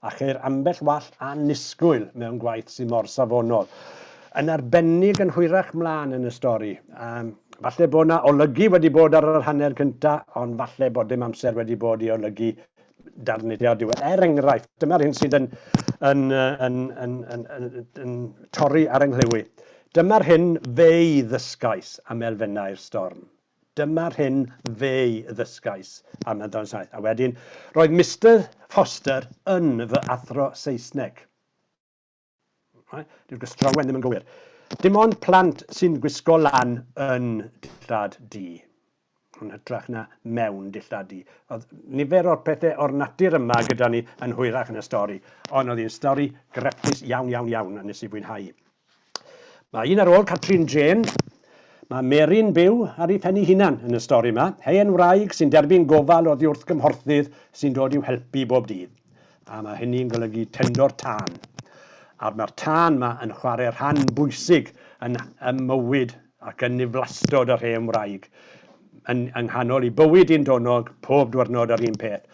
a cheir ambell wall annisgwyl mewn gwaith sydd mor safonol. Yn arbennig yn hwyrach mlaen yn y stori. Um, falle bod yna olygu wedi bod ar yr hanner cynta, ond falle bod dim amser wedi bod i olygu darnidiau diwedd. Er enghraifft, dyma'r hyn sydd yn, yn, yn, yn, yn, yn, yn torri ar yng Dyma'r hyn fe i ddysgais am elfennau'r storm. Dyma'r hyn fe'i ddysgais am Llundain Saith. A wedyn, roedd Mister Foster yn fy athro Saesneg. Dyw'r gystrawen ddim yn gywir. Dim ond plant sy'n gwisgo lan yn dillad du, yn hytrach na mewn dillad du. Oedd nifer o'r pethau o'r natur yma gyda ni yn hwyrach yn y stori, ond oedd hi'n stori grefftus iawn, iawn, iawn, a nes i fwynhau. Mae un ar ôl Catrin Jên. Mae Mary'n byw ar ei phen ei hunan yn y stori 'ma. Hen wraig sy'n derbyn gofal oddiwrthgymhorthydd sy'n dod i'w helpu bob dydd. A mae hynny'n golygu tendor tân. A'r mae'r tân 'ma yn chwarae rhan bwysig yn ym mywyd ac yn niflastod yr hen wraig. Yn yng nghanol ei bywyd un donog, pob dwyrnod yr un peth.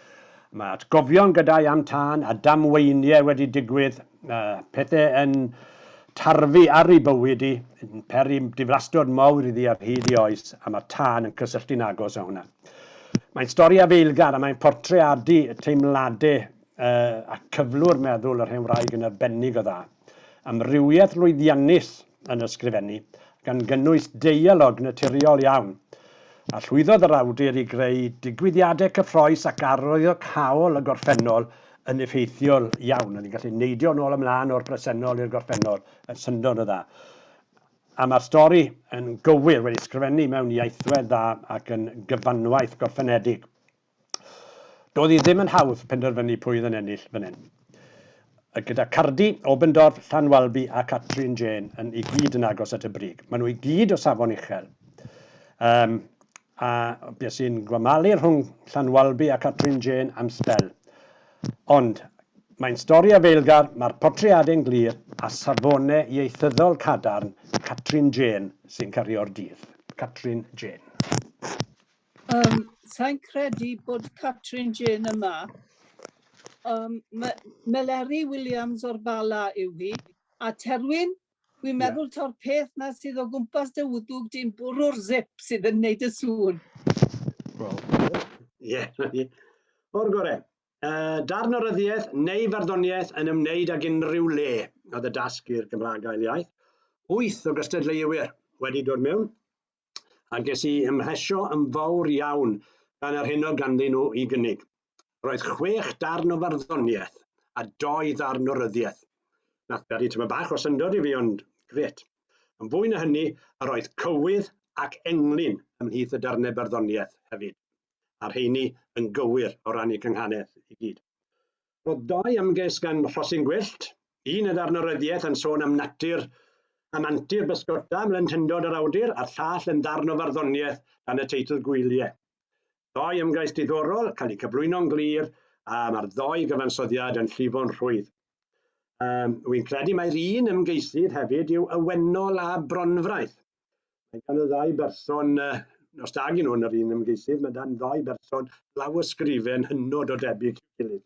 Mae atgofion gyda'i am tân a damweinie wedi digwydd Mae pethau yn tarfu ar ei bywyd hi, yn peri diflastod mawr iddi ar hyd ei oes, a mae'r tân yn cysylltu'n agos â hwnna. Mae'n stori afeilgar a mae'n portreadu teimladau ac cyflwr meddwl yr hen wraig yn arbennig o dda. Amrywiaeth lwyddiannus yn ysgrifennu, gan gynnwys deialog naturiol iawn, a llwyddodd yr awdur i greu digwyddiadau cyffroes ac arwyddo cawl y gorffennol yn effeithiol iawn. Oedd hi'n gallu neidio nôl ymlaen o'r presennol i'r gorffennol yn syndod o dda. A mae'r stori yn gywir, wedi sgrifennu mewn iaethwedd dda ac yn gyfanwaith gorffenedig. Doedd hi ddim yn hawdd penderfynu pwy oedd yn ennill fan hyn. A gyda Cardi, Obendorf, Llanwalby a Catrin Jane yn i gyd yn agos at y brig. Maen nhw i gyd o safon uchel. Um, a beth sy'n gwamalu rhwng Llanwalby a Catrin Jane am sbel. Ond mae'n stori a feilgar, mae'r portreadau'n glir a safone ieithyddol cadarn Catrin Jane sy'n cario'r dydd. Catrin Jane. Um, Sa'n credu bod Catrin Jane yma. Um, Meleri Williams o'r Bala yw hi. A Terwyn, dwi'n meddwl yeah. to'r peth na sydd o gwmpas dy wddwg di'n bwrw'r zip sydd yn neud y sŵn. Wel, ie. O'r gore. Uh, darn o ryddiaeth neu farddoniaeth yn ymwneud ag unrhyw le, oedd y dasg i'r Gymraeg ail iaith. Wyth o gystadleuwyr wedi dod mewn, a ges i ymhesio yn fawr iawn gan yr hyn oedd ganddyn nhw i gynnig. Roedd chwech darn o farddoniaeth a doi ddarn o ryddiaeth. Nath beri tyma bach o syndod i fi ond gret. Yn fwy na hynny, yr oedd cywydd ac englyn ymhlith y darnau barddoniaeth hefyd, a'r rheini yn gywir o ran eu cynghanedd i gyd. Roedd dau ymgais gan Rhosyn Gwyllt, un yn ddarn o ryddiaith yn sôn am natur am antur bysgota mlentyndod yr awdur a'r llall yn ddarn o farddoniaeth dan y teitl Gwyliau. Doi ymgais diddorol, cael eu cyflwyno'n glir, a mae'r ddoi gyfansoddiad yn llifo'n rhwydd. Um, Wy'n credu mai'r un ymgeisydd hefyd yw Ywennol a Bronfraith. Mae gan y ddau berson, os da gen nhw'n yr un ymgeisydd, mae dan ddau berson lawysgrifen hynod o debyg i'w gilydd.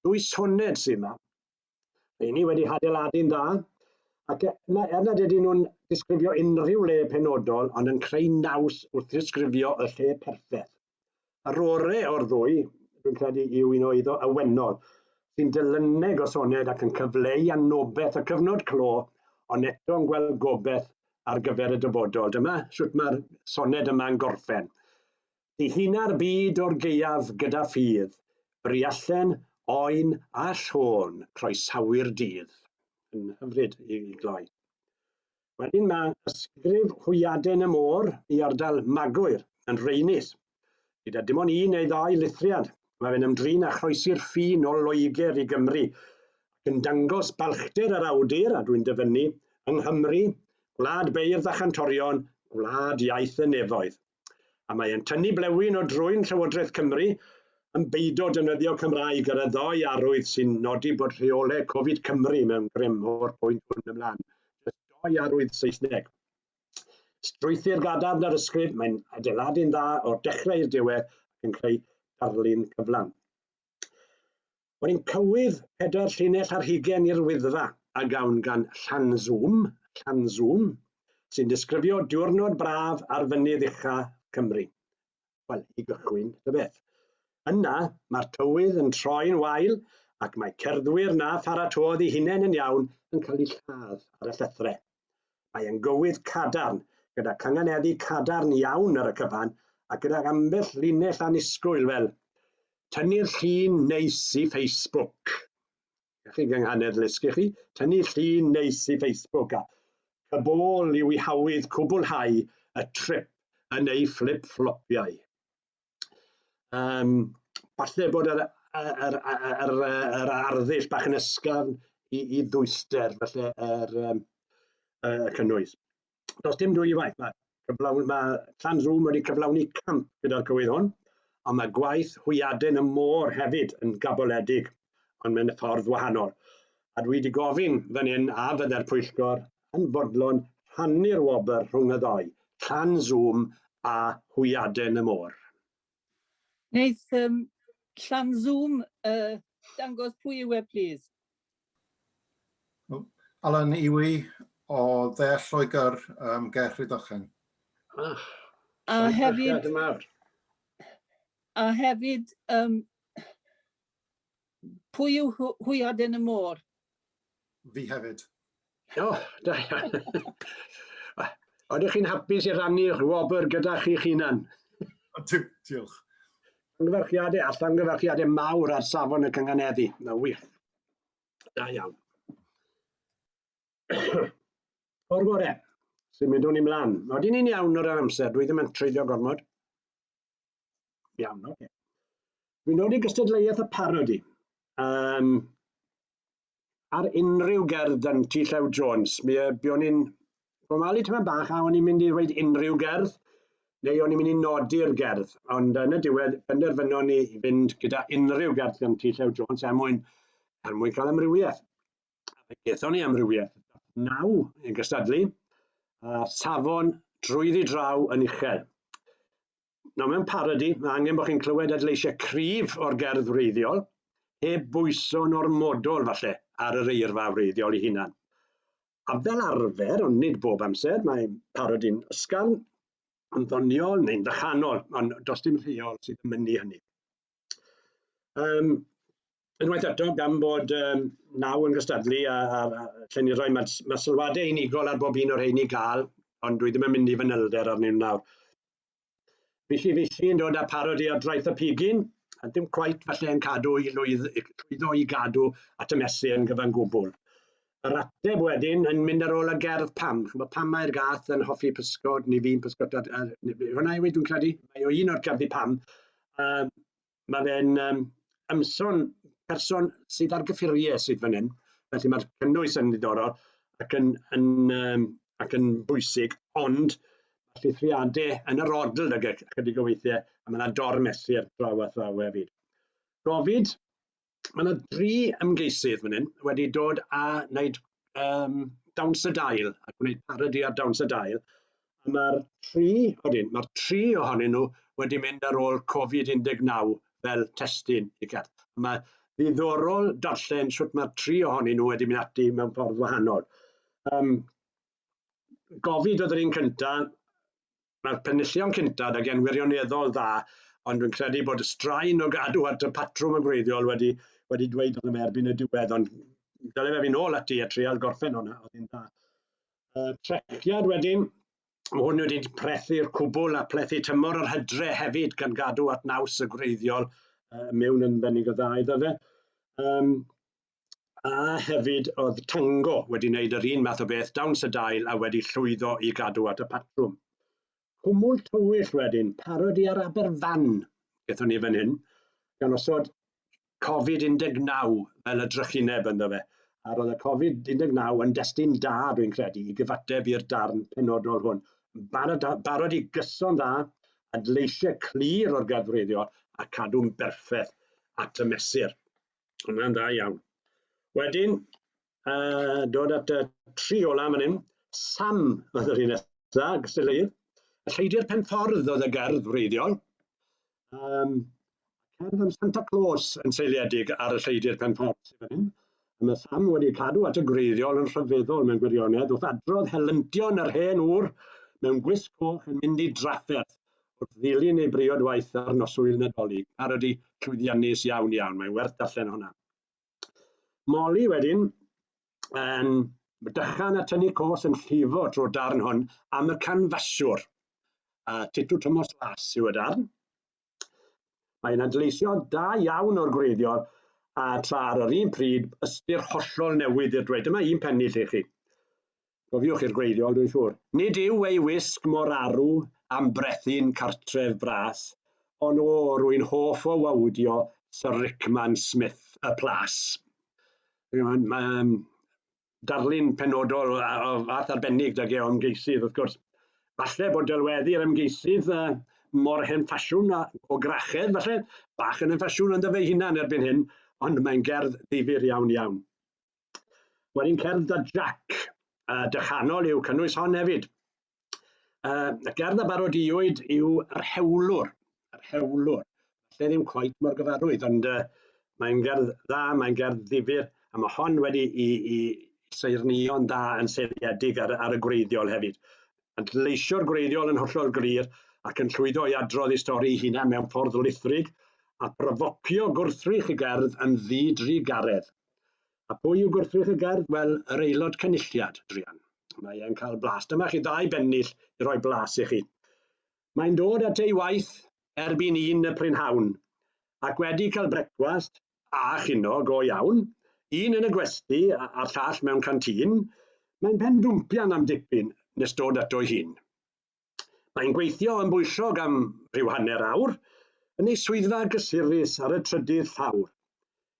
Dwy soned sy'n yma. Mae ni wedi hadeiladu'n dda, ac e, na, er nad ydyn nhw'n disgrifio unrhyw le penodol, ond yn creu naws wrth ddisgrifio y lle perffaith. A rore o'r ddwy, dwi'n credu, yw un o iddo awenol, sy'n dilyneg o soned ac yn cyfleu anobeth y cyfnod clo, ond eto'n gweld gobeth ar gyfer y dyfodol. Dyma sut mae'r soned yma'n gorffen. Dihina'r byd o'r gaeaf gyda ffydd, briallen, oen a llon, croesawu'r dydd. Yn hyfryd i gloi. Wedyn mae ysgrif Hwyaden y Môr i ardal Magwyr yn Rheinis. Gyda dim ond un neu ddau lithriad, mae fe'n ymdrin â chroesi'r ffin o Loegr i Gymru ac yn dangos balchder yr awdur, a dwi'n dyfynnu, yng Nghymru, gwlad beirdd a chantorion, gwlad iaith y nefoedd. a mae e'n tynnu blewyn o drwyn Llywodraeth Cymru yn beido defnyddio Cymraeg ar y ddoi arwydd sy'n nodi bod rheolau Covid Cymru mewn grym o'r pwynt hwn ymlaen. Jyst doi arwydd Saesneg. Strwythur gadarn ar ysgrif, mae'n adeiladu'n dda o'r dechrau i'r diwedd ac yn creu darlun cyflawn. Mae'n cywydd pedair llinell ar hugain i'r Wyddfa, a gawn gan Llanzwm, Llanzwm, sy'n disgrifio diwrnod braf ar fynydd ucha Cymru. Wel, i gychwyn, tybeth. Yna, mae'r tywydd yn troi'n wael ac mae cerddwyr na pharatodd i hunain yn iawn yn cael eu lladd ar y llethrau. Mae yn gywydd cadarn, gyda cynganeddu cadarn iawn ar y cyfan, a gydag ambell linell annisgwyl fel Tynnu'r llun neis i Facebook. Gall chi gynghanedd ddysgu chi, tynnu llun neis i Facebook a chybôl i'w ihawydd cwblhau y trip yn ei fflip-fflopiau. Um, falle bod yr, yr, yr, yr, yr arddull bach yn ysgafn i, i ddwyster, falle yr um, uh, cynnwys. Does dim dwy waith, mae, cyflawn, mae Clan Rŵm wedi cyflawni camp gyda'r cywydd hwn, ond mae gwaith hwyaden y môr hefyd yn gaboledig, ond mae'n ffordd wahanol. A dwi wedi gofyn fan hyn a fydde'r pwyllgor yn fodlon rhannu'r wobr rhwng y ddou, Llan Zoom a Hwyaden y Môr. Wneith um, Llan Zoom uh, dangos pwy yw e, plîs? Alan Iwi o Ddeall Lloegr, um, Ger Rhydychen. Ah, a hefyd... A hefyd, um, Pwy yw Hwy Aden y Môr? Fi hefyd. O, oh, da iawn. Oeddech chi'n hapus i rannu'ch wobr gyda chi'ch hunan? Diolch. Llongyfarchiadau a llongyfarchiadau mawr ar safon y cynganeddi. Mae'n wych. Da iawn. O'r bore, sy'n mynd o'n i mlaen. Oedden ni'n iawn o ran amser, dwi ddim yn treulio gormod. Iawn, oce. Okay. Fi'n dod i gystadleuaeth y parodi. Um, ar unrhyw gerdd dan ti Llew Jones, mi uh, bion i'n formalu tyma bach a o'n i'n mynd i ddweud unrhyw gerdd, neu o'n i'n mynd i nodi'r gerdd, ond yn y diwedd penderfynon ni i fynd gyda unrhyw gerdd gan ti Llew Jones er mwyn, er mwyn cael amrywiaeth. a fe gethon ni amrywiaeth naw yn gystadlu, a safon drwyddi draw yn uchel. Nawr mewn parodi, mae angen bod chi'n clywed adleisiau cryf o'r gerdd wreiddiol, heb bwyso'n ormodol falle ar yr eirfa wreiddiol ei hunan. A fel arfer, ond nid bob amser, mae parodi'n ysgafn, yn ddoniol neu'n ddychanol, ond does dim rheol sydd yn mynnu hynny. Um, unwaith eto, gan bod um, naw yn gystadlu a, a, a lle ni roi, mae, mae sylwadau unigol ar bob un o'r rheini gael, ond dwi ddim yn mynd i fanylder arnyn nhw nawr. Fisi fisi yn dod â parod i adwaith y pigyn, a dim cwaith falle yn cadw i lwydd, llwyddo i gadw at y mesur yn gyfan gwbl. yr ateb wedyn yn mynd ar ôl y gerdd pam. Chymod, pam mae'r gath yn hoffi pysgod, neu fi'n pysgod, a, hwnna yw ei dwi'n credu, mae o un o'r gerddi pam. Um, mae fe'n um, ymson person sydd ar gyffuriau sydd fan hyn, felly mae'r cynnwys yn ddiddorol ac yn, yn, um, ac yn bwysig, ond mae llithriadau yn yr odl ag ychydig o weithiau, a mae yna dormesur draw a thraw hefyd. Gofid, Mae yna dri ymgeisydd fan hyn wedi dod a wneud um, dawns y dail a gwneud parodi ar dawns y dail. A mae'r tri, odyn, mae'r tri ohonyn nhw wedi mynd ar ôl Covid-19 fel testyn i cerdd. Mae ddiddorol darllen sut mae'r tri ohonyn nhw wedi mynd ati mewn ffordd wahanol. Um, Gofid oedd yr un cyntaf, Mae'r penillion cyntaf ag e'n wirioneddol dda, ond dwi'n credu bod y straen o gadw at y patrwm yn gwreiddiol wedi wedi dweud wrtho fe erbyn y diwedd, ond dyle fe fynd nôl ati a trial gorffen hwnna, oedd hi'n dda. Uh, trethiad wedyn, mae hwn wedi prethu'r cwbl a plethu tymor yr hydre hefyd gan gadw at naws y gwreiddiol uh, mewn yn bennig o dda iddo fe. Um, a hefyd oedd Tango wedi wneud yr un math o beth, dawns y dail a wedi llwyddo i gadw at y patrwm. Cwmwl tywyll wedyn, parodi ar Aberfan, gethon ni fan hyn, gan osod Covid-19 fel y drychineb ynddo fe. A roedd y Covid-19 yn destun da, dwi'n credu, i gyfateb i'r darn penodol hwn. Barod, barod i gyson dda, adleisiau clir o'r gadwreiddiol a cadw'n berffaith at y mesur. Mae'n dda iawn. Wedyn, uh, dod at y tri ola fan hyn, Sam oedd yr un nesaf, Gysylltydd. Y lleidi'r pen ffordd oedd y gerdd wreiddiol. Um, cerdd am Santa Claus yn seiliedig ar y lleidi'r pen ffordd sydd fan hyn. Mae Sam wedi cadw at y gwreiddiol yn rhyfeddol mewn gwirionedd wrth adrodd helyntion yr hen ŵr mewn gwisg coch yn mynd i drafferth Wrth ddilyn ei briod waith ar noswyl Nadolig, ar ydi llwyddiannus iawn iawn, mae'n werth darllen hwnna. Molly wedyn yn dychan a tynnu cos yn llifo trwy'r darn hwn am y canfaswr. A titw Thomas Las yw y darn. Mae'n adleisio da iawn o'r gwreiddiol a tra ar yr un pryd ystyr hollol newydd i'r dweud. Dyma un pennill i chi. Cofiwch i'r gwreiddiol, dwi'n siŵr. Nid yw ei wisg mor arw am brethin cartref bras, ond o, rwy'n hoff o wawdio Sir Rickman Smith y Plas. Mae um, darlun penodol o, o fath arbennig da o ymgeisydd, wrth gwrs. Falle bod delweddu'r ymgeisydd uh, mor hen ffasiwn a o grachedd, falle, bach yn hen ffasiwn ynddo fe hunan erbyn hyn, ond mae'n gerdd ddifyr iawn iawn. Wel, un cerdd da Jac, a dychanol yw cynnwys hon hefyd. Uh, y gerdd a barodiwyd yw yr hewlwr, yr hewlwr. Lle ddim coet mor gyfarwydd, ond uh, mae'n gerdd dda, mae'n gerdd ddifur, a mae hon wedi i, i seirnio'n dda yn seiliedig ar, ar y gwreiddiol hefyd. Yn leisio'r gwreiddiol yn hollol glir ac yn llwyddo i adrodd ei stori hunan mewn ffordd lithrig a brofocio gwrthrych y gerdd yn ddi-dri garedd. A pwy yw gwrthrych y gerdd? Wel, yr Aelod Cynulliad, druan. Mae e'n cael blas. Dyma chi ddau bennill i roi blas i chi. Mae'n dod at ei waith erbyn un y prynhawn, ac wedi cael brecwast a chino go iawn, un yn y gwesty a'r llall mewn canteen, mae'n pen dwmpian am dipyn nes dod ato'i hun. Mae'n gweithio yn bwyllog am rhyw hanner awr, yn ei swyddfa gysurus ar y trydydd llawr.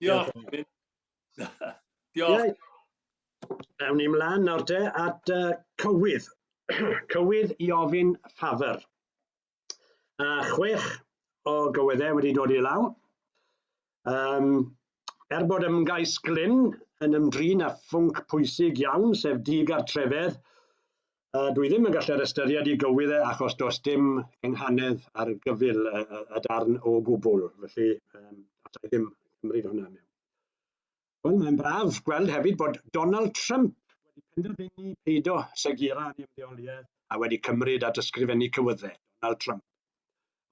Diolch. Diolch. Ewn ni mlaen nawr te at uh, cywydd. cywydd i ofyn ffafr. A chwech o gywyddau wedi dod i law. Um, er bod ymgais Glyn yn ymdrin â phwnc pwysig iawn, sef digartrefedd, A dwi ddim yn gallu'r ystyried i gywydd e achos does dim cynghanedd ar gyfyl y, y, y darn o gwbl, felly um, allai ddim cymryd hwnna mewn. Wel, mae'n braf gweld hefyd bod Donald Trump wedi penderfynu peido segira yn ymddeoliaeth a wedi cymryd at ysgrifennu cywyddau, Donald Trump.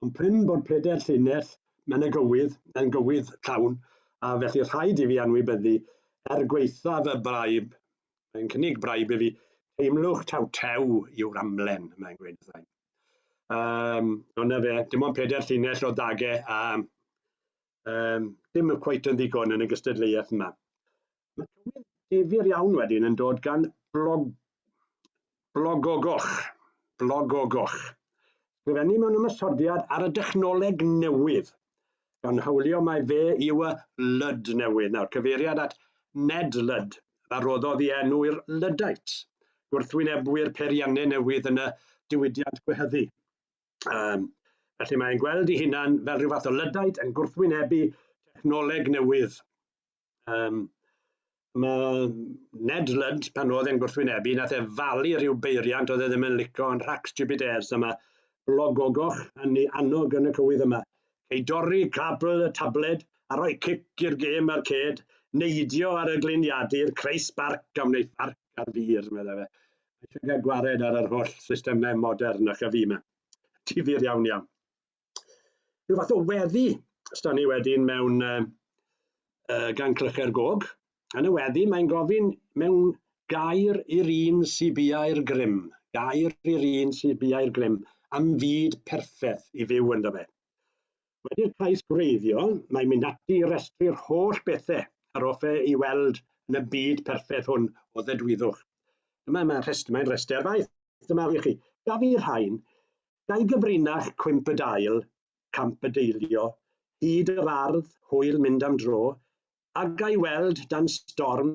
Ond prin bod pryder llinell mewn y gywydd yn gywydd llawn, a felly rhaid i fi anwybyddu er gweithaf y braib Mae'n cynnig braidd i fi, teimlwch taw tew yw'r amlen, mae'n gweud wrtha i. Um, ond na fe, dim ond pedair llinell o dage a um, dim cweit yn ddigon yn y gystadleuaeth yma. Mae tywydd difyr iawn wedyn yn dod gan blog Blogogoch, blogogoch. Sgrifennu mewn ymosodiad ar y dechnoleg newydd, gan hawlio mai fe yw y Lud newydd. Nawr, cyfeiriad at Ned Lud, a roddodd i enw i'r Luddites, gwrthwynebwyr peiriannau newydd yn y diwydiant gwehyddu. Um, felly mae'n gweld ei hunan fel rhyw fath o Luddite yn gwrthwynebu technoleg newydd. Um, mae Ned Ludd, pan oedd e'n gwrthwynebu, nath e falu rhyw beiriant oedd e ddim yn licio yn rhac stupid airs, a mae blog ogoch yn ei annog yn y cywydd yma. Ei dorri cabl y tabled a rhoi cic i'r gêm ar ced, neidio ar y gliniadur, creu sbarc a wneud farc ar fur, meddai fe. Mae eisiau cael gwared ar yr holl systemau modern a chyfu yma. Difyr iawn iawn. rhyw fath o weddi, os da ni wedyn mewn uh, uh, gan clychau'r gog, yn y weddi mae'n gofyn mewn gair i'r un sy'n biau'r grym, gair i'r un sy'n biau'r grym, am fyd perffaith i fyw ynddo fe. Wedi'r cais gwreiddiol, mae'n mynd ati i restru'r holl bethau ar offe i weld yn y byd perffaith hwn o ddedwyddwch. Dyma mae'n rhest, mae rhestr faith, dyma fi chi. Gaf fi rhain, Dau gyfrinach cwymp y dail, camp y deilio, hyd yr ardd, hwyl mynd am dro, a ga i weld dan storm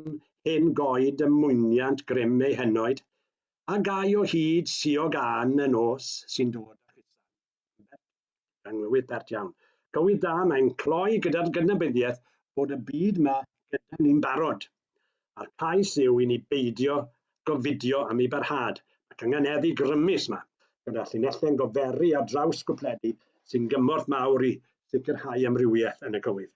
hen goed ym mwyniant grym eu henoed, a ga i o hyd siog ân y nos sy'n dod â Chrysan yn bert, cynglywydd bert iawn. Cywydd da, mae'n cloi gyda'r gydnabyddiaeth bod y byd 'ma gyda ni'n barod. a'r cais yw i ni beidio gofidio am ei barhad, ac angen heddi grymus yma, gyda llinelle'n goferi ar draws gwpledu sy'n gymorth mawr i sicrhau amrywiaeth yn y cywydd.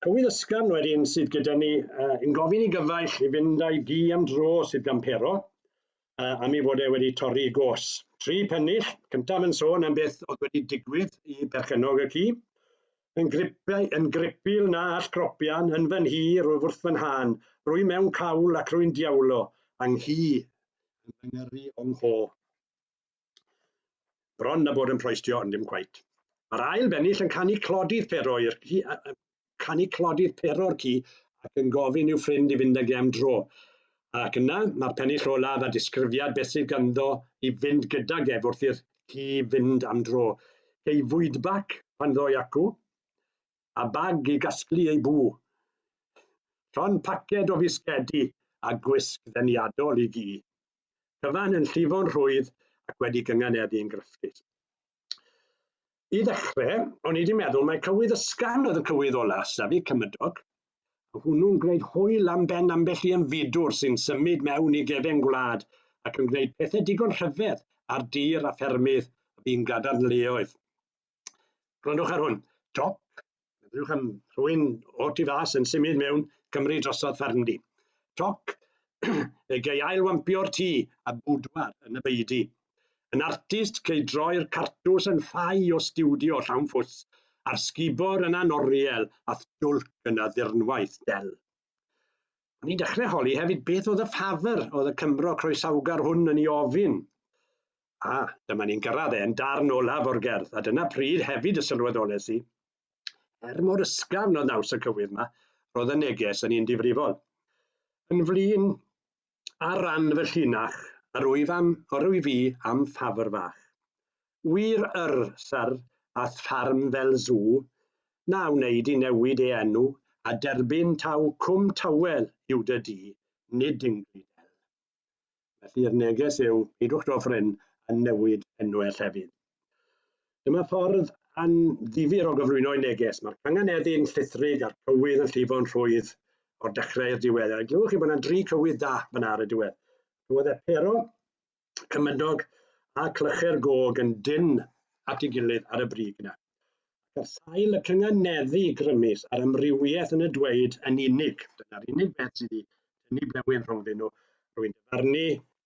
Cywydd ysgafn wedyn sydd gyda ni uh, yn gofyn i gyfaill i fynd â'i gi am dro sydd gan pero, uh, am ei fod e wedi torri i gos. Tri pennill, cyntaf yn sôn am beth oedd wedi digwydd i berchenog y ci. Yn, gripau, yn gripil na all gropian, yn fy nhi, rwyf wrth fy nhân, rwy mewn cawl ac rwy'n diawlo, a nghi yn fy ngyrru o'ng ho. Bron a bod yn proistio ond dim cweit. Mae'r ail bennill yn canu clodydd pero i'r ci, canu clodydd pero'r ci ac yn gofyn i'w ffrind i fynd ag e am dro. Ac yna, mae'r pennill olaf a disgrifiad beth sydd ganddo i fynd gydag ef wrth i'r ci fynd am dro. Cei fwydbac pan ddoi acw, a bag i gasglu ei bw. Llon paced o fisgedi a gwisg ddeniadol i gi. cyfan yn llifo'n rhwydd ac wedi gynganeddu yn grysgus. I ddechrau, o'n i wedi meddwl mae cywydd ysgan oedd y cywydd ola, safi cymydog. A hwnnw'n gwneud hwyl am ben ambell i ymfudwr sy'n symud mewn i gefen gwlad ac yn gwneud pethau digon rhyfedd ar dir a ffermydd y bu'n gadarnleoedd. Gwrandwch ar hwn. Dop, meddwch am rhywun o tu fas yn symud mewn Cymru drosodd fferm di. Toc, fe gei ail wampio'r tŷ a bwdwar yn y beidi. Yn artist, cei droi'r cartws yn ffai o stiwdio llawn ffws, a'r sgubor yna'n oriel a thjwlc yn y ddirnwaith del. O'n i'n dechrau holi hefyd beth oedd y ffafr oedd y Cymro croesawgar hwn yn ei ofyn. A, dyma ni'n gyrraedd e'n darn olaf o'r gerdd, a dyna pryd hefyd y sylweddolais i, er mor ysgafn oedd naws y cywydd yma, roedd y neges yn un difrifol. Yn flin, ar ran fy llinach, yr wyf am, yr wyf i am ffafr fach. Wir yr, syr, a tharm fel zw, na wneud i newid ei enw, a derbyn taw Cwm Tawel yw dy di, nid Dingley Dell. Felly yr neges yw, peidiwch dod ffrin a newid enw e llefydd. Dyma ffordd anddifir o gyflwyno'i neges. Mae'r canganeddyn llithrig a'r cywydd yn llifo'n rhwydd o'r dechrau i'r diwedd. A glywch chi bod yna dri cywydd da fyna ar y diwedd. Roedd e pero, cymydog a clychu'r gog yn dyn at ei gilydd ar y brig yna. ac ar sail y cynganeddu grymus a'r amrywiaeth yn y dweud yn unig. Dyna'r unig beth sydd wedi tynnu blewyn rhwngddyn nhw. Rwy'n dyfarnu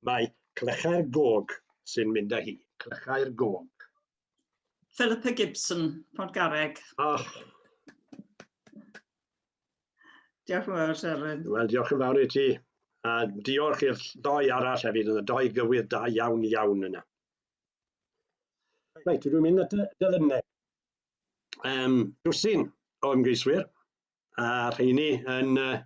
mae clychau'r gog sy'n mynd â hi. Clychau'r gog. Philippa Gibson, Garreg. Ach. Diolch yn fawr, Seren. Wel, diolch yn fawr i ti. A diolch i'r ddoi arall hefyd, yn y doi gywydd da iawn iawn yna. Reit, dwi'n mynd at y dyfynnau. Um, dwsin o ymgeiswyr, a rheini yn... Uh,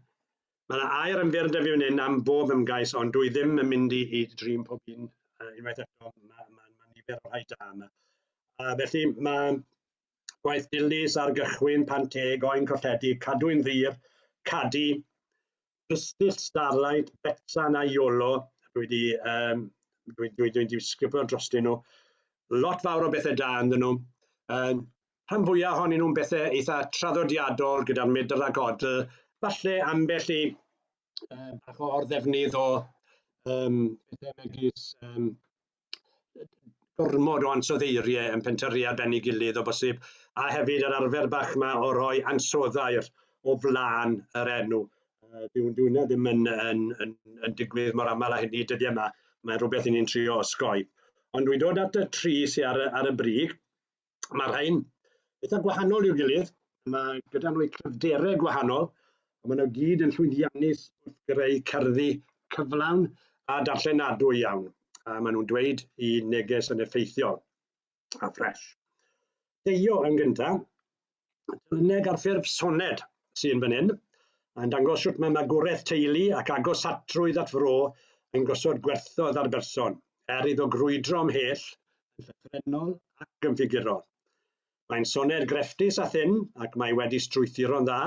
mae yna air yn fyr da fi fan hyn am bob ymgais, ond dwi ddim yn mynd i, i drin pob un uh, unwaith eto. Mae'n ma, ma, ma nifer o rhai da yma. Uh, felly mae gwaith dilys ar gychwyn, pan teg, oen colledi, cadwyn ddir, cadu, Pistyll, Starlight, Betsan a Iolo. Dwi wedi, um, dwi, dwi, dwi wedi sgrifo dros dyn nhw. Lot fawr o bethau da ynddyn nhw. Um, rhan fwyaf ohonyn nhw'n bethau eitha traddodiadol gyda'r medr a godl. Falle ambell i um, bach o orddefnydd o um, pethau megis um, gormod o ansoddeiriau yn pentyrru ar ben ei gilydd o bosib, a hefyd yr arfer bach yma o roi ansoddair o flaen yr enw. Uh, dwi'n dwi ddim yn, yn, yn, yn digwydd mor aml â hynny dyddiau yma, mae'n rhywbeth i ni'n trio osgoi. Ond dwi'n dod at y tri sy'n ar, ar y brig, Mae rhain eitha gwahanol i'w gilydd, mae gyda nhw cryfderau gwahanol, a maen nhw gyd yn llwyddiannus wrth greu cerddi cyflawn a darllenadwy iawn, a maen nhw'n dweud i neges yn effeithiol a ffres. Deio yn gyntaf, Dyluneg ar ffurf soned sy'n fan hyn, yn dangos sut mae magwraeth teulu ac agosatrwydd at fro yn gosod gwerthoedd ar berson, er iddo grwydro ymhell yn llythrennol ac yn ffigurol. Mae'n soned grefftus a thynn ac mae wedi strwythuro'n dda,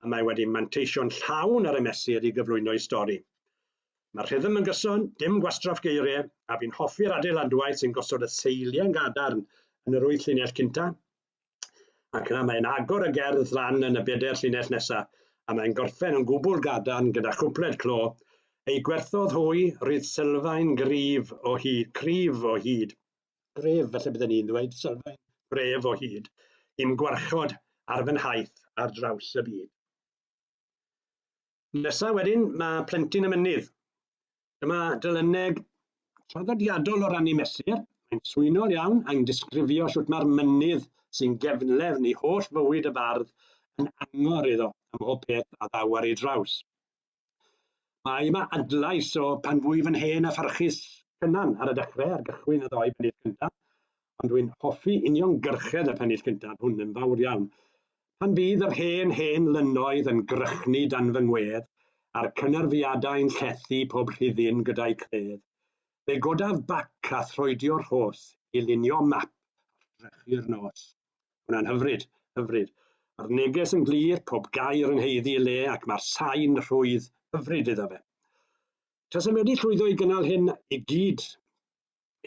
a mae wedi manteisio'n llawn ar y mesur i gyflwyno'i stori. Mae'r rhythm yn gyson, dim gwastraff geiriau, a fi'n hoffi'r adeiladwaith sy'n gosod y seiliau'n gadarn yn yr wyth llinell cynta, Ac yna mae'n agor y gerdd lan yn y bedair llinell nesaf, a mae'n gorffen yn gwbl gadarn gyda chwpled clo, Ei gwerthodd hwy, rydd sylfaen gryf o hyd, cryf o hyd, gref, felly bydden ni'n dweud, sylfaen gref o hyd, i'm gwarchod ar fy nhaith ar draws y byd. Nesa wedyn, mae plentyn y mynydd. Dyma dylyneg traddodiadol o rannu mesur. Mae'n swynol iawn a'n disgrifio sut mae'r mynydd sy'n gefnlefn i holl fywyd y bardd yn angor iddo am mhob peth a ddaw ar ei draws. Mae yma adlais o pan fwyf yn hen a pharchus Cynan ar y dechrau ar gychwyn y ddoi bennill cyntaf, ond dwi'n hoffi uniongyrchedd y pennill cyntaf hwn yn fawr iawn. Pan fydd yr hen, hen lynnoedd yn grychnu dan fy ngwedd, a'r cynerfiadau'n llethu pob rhuddin gyda'u credd, fe godaf bac a throedio rhos i lunio map ar drechu'r nos. Hwnna'n hyfryd, hyfryd. Mae'r neges yn glir, pob gair yn haeddu ei le ac mae'r sain rhwydd hyfryd iddo fe. Tasem wedi llwyddo i gynnal hyn i gyd,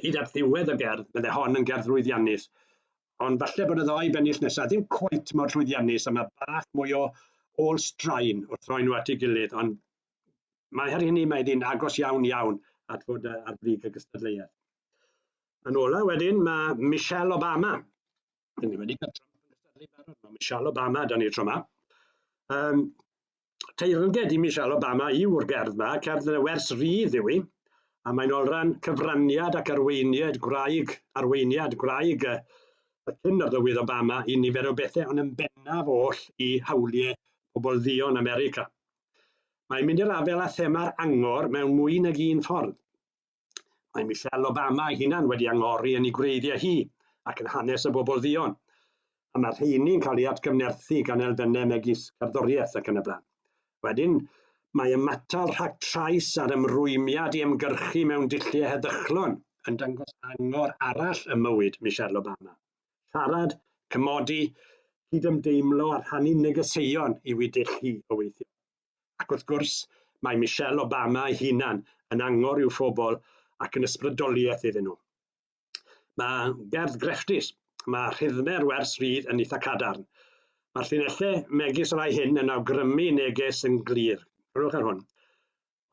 Hyd at ddiwedd y gerdd, bydde hon yn gerdd lwyddiannus. Ond falle bod y ddoi bennill nesaf ddim cweit mor llwyddiannus a mae bach mwy o ôl straen wrth roi nhw at ei gilydd, ond mae her hynny mae hi'n agos iawn iawn at fod ar brig y gystadleuaeth. Yn ola wedyn mae Michelle Obama. Dyn ni wedi cael Trump yn gystadlu barod, mae Michelle Obama dan ni tro yma. Um, teyrnged i Michelle Obama yw'r gerdd yma, cerdd yn y wers rydd yw hi, a mae'n olran cyfraniad ac arweiniad gwraig, arweiniad gwraig y, y cyn arlywydd Obama i nifer o bethau, ond yn bennaf oll i hawliau pobl ddion America. Mae'n mynd i'r afel â thema'r angor mewn mwy nag un ffordd. Mae Michelle Obama ei hunan wedi angori yn ei gwreiddiau hi ac yn hanes y bobl dduon, a mae'r rheini'n cael ei atgyfnerthu gan elfennau megis cerddoriaeth ac yn y blaen. Wedyn, mae ymatal rhag trais a'r ymrwymiad i ymgyrchu mewn dulliau heddychlon yn dangos angor arall ym mywyd Michelle Obama. Siarad, cymodi, cydymdeimlo a rhannu negeseuon yw ei dull hi o weithio. Ac wrth gwrs, mae Michelle Obama ei hunan yn angor i'w phobl ac yn ysbrydoliaeth iddyn nhw. Mae gerdd grefftus, mae rhythme'r wers rydd yn eitha cadarn. Mae'r llinellau megis y rhai hyn yn awgrymu neges yn glir. Rhywch ar hwn.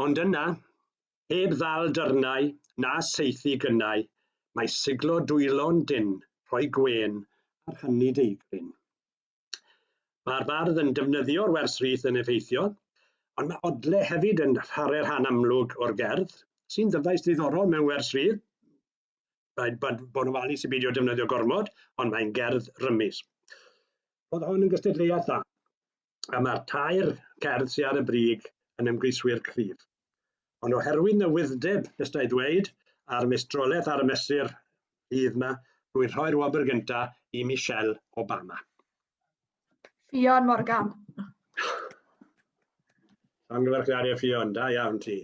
Ond yna, heb ddal dyrnau na saethu gynnau, mae siglo dwylo'n dynn, rhoi gwên ar hynny deigryn. Mae'r bardd yn defnyddio'r wers rith yn effeithiol, ond mae odle hefyd yn rhare rhan amlwg o'r gerdd, sy'n ddyfais ddiddorol mewn wers rith. Rhaid bod, bod yn ofalus i beidio defnyddio gormod, ond mae'n gerdd rymus. Roedd hon yn gystadleuaeth dda, a mae'r tair cerdd sydd ar y brig yn ymgeiswyr cryf. ond oherwydd newydd'deb, nes da i ddweud, a'r meistroleth ar y mesur fydd yma, rwy'n rhoi'r wobr gynta i Michelle Obama. Ffion Morgan. Llongyfarchiadau Ffion, da iawn ti.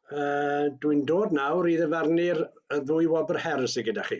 Uh, Dwi'n dod nawr i ddyfarnu'r ddwy wobr her sydd gyda chi.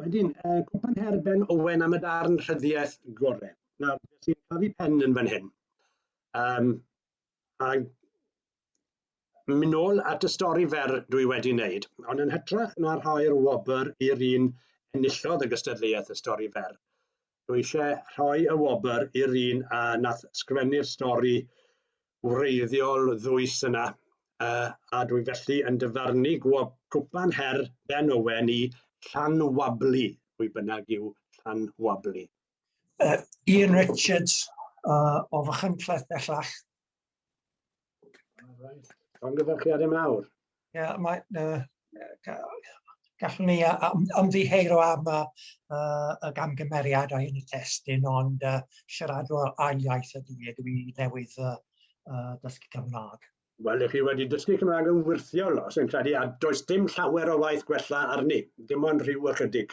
Wedyn, uh, cwpan her Ben Owen am y darn rhyddiaeth gore. Nawr, sy'n cael ei pen yn fan hyn. Um, a mynd nôl at y stori fer dwi wedi wneud, ond yn hytrach na rhoi'r wobr i'r un enillodd y gystadleuaeth y stori fer. Dwi eisiau rhoi y wobr i'r un a nath sgwennu'r stori wreiddiol ddwys yna, uh, a dwi felly yn dyfarnu gwob cwpan her Ben Owen i Llan Wablu, pwy bynnag yw Llan Wablu. Uh, Ian Richards uh, o Fychan Cleth bellach, Llongyfarchiadau mawr. Ie, yeah, mae... Uh, gallwn ni ymddiheuro am y, uh, y gamgymeriadau yn y testyn, ond uh, siaradwr ail iaith ydy e, dwi newydd uh, uh, dysgu Cymraeg. Wel, ych chi wedi dysgu Cymraeg yn wyrthiol os yn credu, a does dim llawer o waith gwella arni, dim ond rhyw ychydig.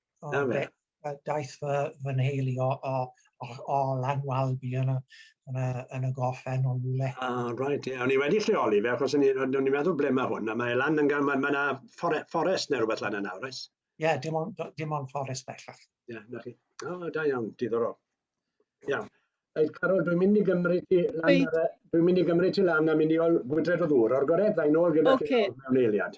O, oh, fe, fe, daeth fy, fy nheulu o, o, o, o Lanwalbi yn y, yn y, yn y gorffen o rhywle. Ah, right, ie. Yeah. O'n i wedi lleoli fe, achos o'n i'n meddwl ble mae hwn, a mae lan yn gan, mae yna fore, fforest neu rhywbeth lan yna, oes? Ie, yeah, dim ond, dim ond fforest bellach. Ie, yeah, na chi. O, oh, da iawn, diddorol. Iawn. Reit, Carol, dwi'n mynd i gymryd ti lan, e, dwi'n mynd i gymryd ti lan a mynd i ol gwydred o ddŵr o'r gored, dda'n ôl gyda okay. chi mewn eiliad.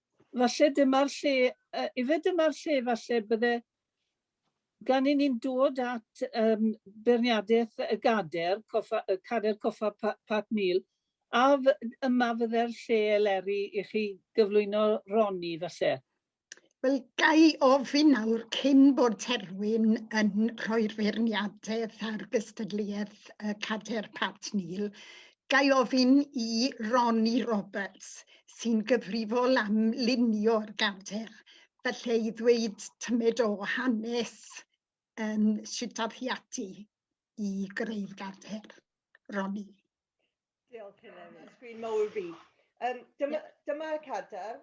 falle dyma'r lle, uh, ife dyma'r lle falle bydde gan i ni'n dod at um, beirniadaeth y gader, coffa, y cader coffa Pat Neil, a yma fydde'r lle eleri i chi gyflwyno Roni falle? Wel, gai ofyn nawr cyn bod Terwyn yn rhoi'r feirniadaeth ar gystadleuaeth y cader Pat Neil, Ga i ofyn i Ronnie Roberts, sy'n gyfrifol am lunio'r gadair, falle i ddweud tymed o hanes um, sut ddath hi ati i greu'r gadair. Ronnie. Diolch, Helen. Sgwyn mawr fi. Um, dyma, yeah. dyma y cadair.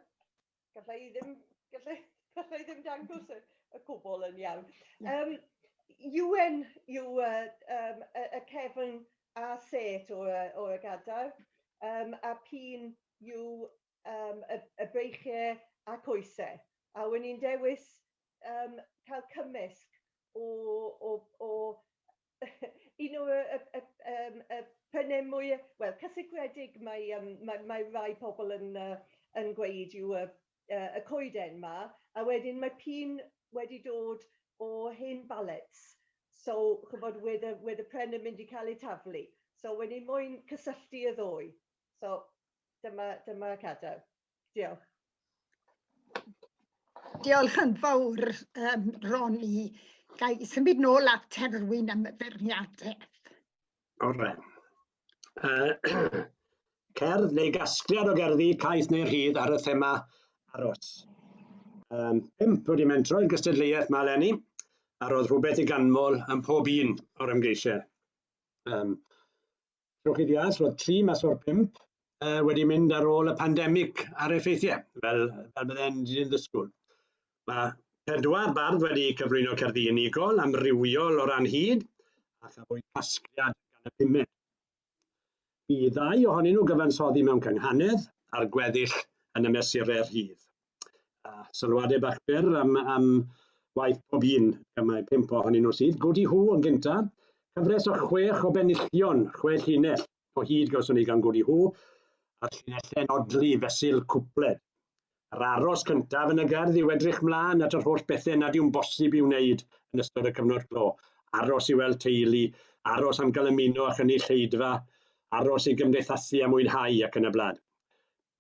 Galla i ddim, galla, galla i ddim dangos y, y cwbl yn iawn. Um, Ewan yw uh, um, y, y cefn a set o'r, o'r gadair, um, a pin yw um, y, y breichiau a coesau. A wyn i'n dewis um, cael cymysg o, o, o un o y y y yym y pene mwy yy wel cysegredig mae yym mae mae rai pobl yn yy yn gweud yw y yy y coeden 'ma a wedyn mae p'un wedi dod o hen balets so ch'mbod wedd y wedd y pren yn mynd i ca'l ei taflu so wen i moyn cysylltu y ddou so dyma dyma cadair. Diolch. Diolch yn fawr, um, Ronnie. Ga i symud nôl at terwyn am y ferniadaeth? Ore. Uh, cerdd neu gasgliad o gerddi, caeth neu rhydd ar y thema aros. Um, pimp wedi mentro i'r gystadleuaeth mae Lenny, a roedd rhywbeth i ganmol yn pob un o'r ymgeisiau. Um, Trowch chi ddeall, roedd tri mas o'r pump uh, wedi mynd ar ôl y pandemig a'r effeithiau, fel, fel byddai'n dyn ddysgwyl. Mae pedwar bardd wedi cyflwyno cerddi unigol amrywiol o ran hyd a chafwyd casgliad gan y pumed. Bu ddau ohonyn nhw gyfansoddi mewn cynghanedd ar gweddill yn y mesurau rhydd. A sylwadau bach byr am, am waith pob un, gan mae pimp ohonyn nhw sydd. Godi Hw yn gyntaf, cyfres o chwech o benillion, chwe llinell o hyd gawson ni gan Godi Hw, a'r llinelle'n odli fesul cwpled. Yr aros cyntaf yn y gerdd yw edrych mlaen at yr holl bethau nad yw'n bosib i'w wneud yn ystod y cyfnod clo, aros i weld teulu, aros am gael ymuno â chynulleidfa, aros i gymdeithasu a mwynhau ac yn y blaen.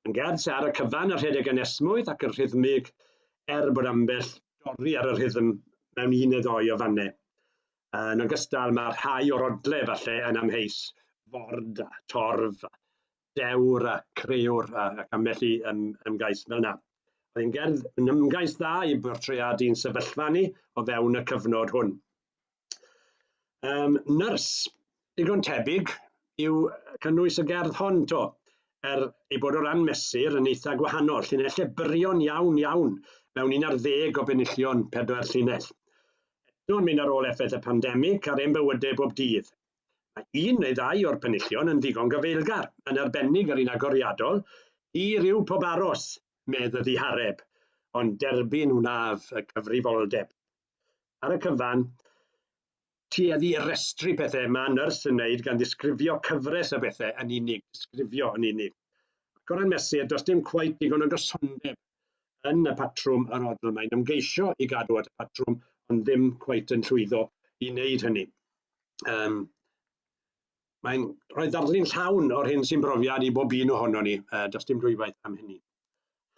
Yn gerdd, ar y cyfan y rhedeg yn esmwyth ac yn rhythmig, er bod ambell dorri ar y rhythm mewn un neu ddoi o fannau. Yn ogystal, mae rhai o'r odle falle yn amheus, ford a torf a dewr a creuwr ac ambell i ym, ymgais fel yna. Oedd yn gerdd yn ymgais dda i bortreadu'n sefyllfa ni o fewn y cyfnod hwn. Um, nyrs, digon tebyg yw cynnwys y gerdd hon to, er ei bod o ran mesur yn eitha gwahanol, llinellau byrion iawn iawn mewn un ar ddeg o benillion pedwar llinell. Eto'n mynd ar ôl effaith y pandemig ar ein bywydau bob dydd. Mae un neu ddau o'r penillion yn ddigon gyfeilgar, yn arbennig yr un agoriadol, i ryw pob aros, medd y ddihareb, ond derbyn wnaf y cyfrifoldeb. ar y cyfan, tueddu i restru pethau mae nyrs yn wneud gan ddisgrifio cyfres o bethau yn unig, disgrifio yn unig. Ac o ran mesur, does dim cweit digon o gysondeb yn y patrwm yr odl. Mae'n ymgeisio i gadw at y patrwm, ond ddim cweit yn llwyddo i wneud hynny. Um, mae'n rhoi darlun llawn o'r hyn sy'n brofiad i bob un ohono ni, uh, does dim dwywaith am hynny.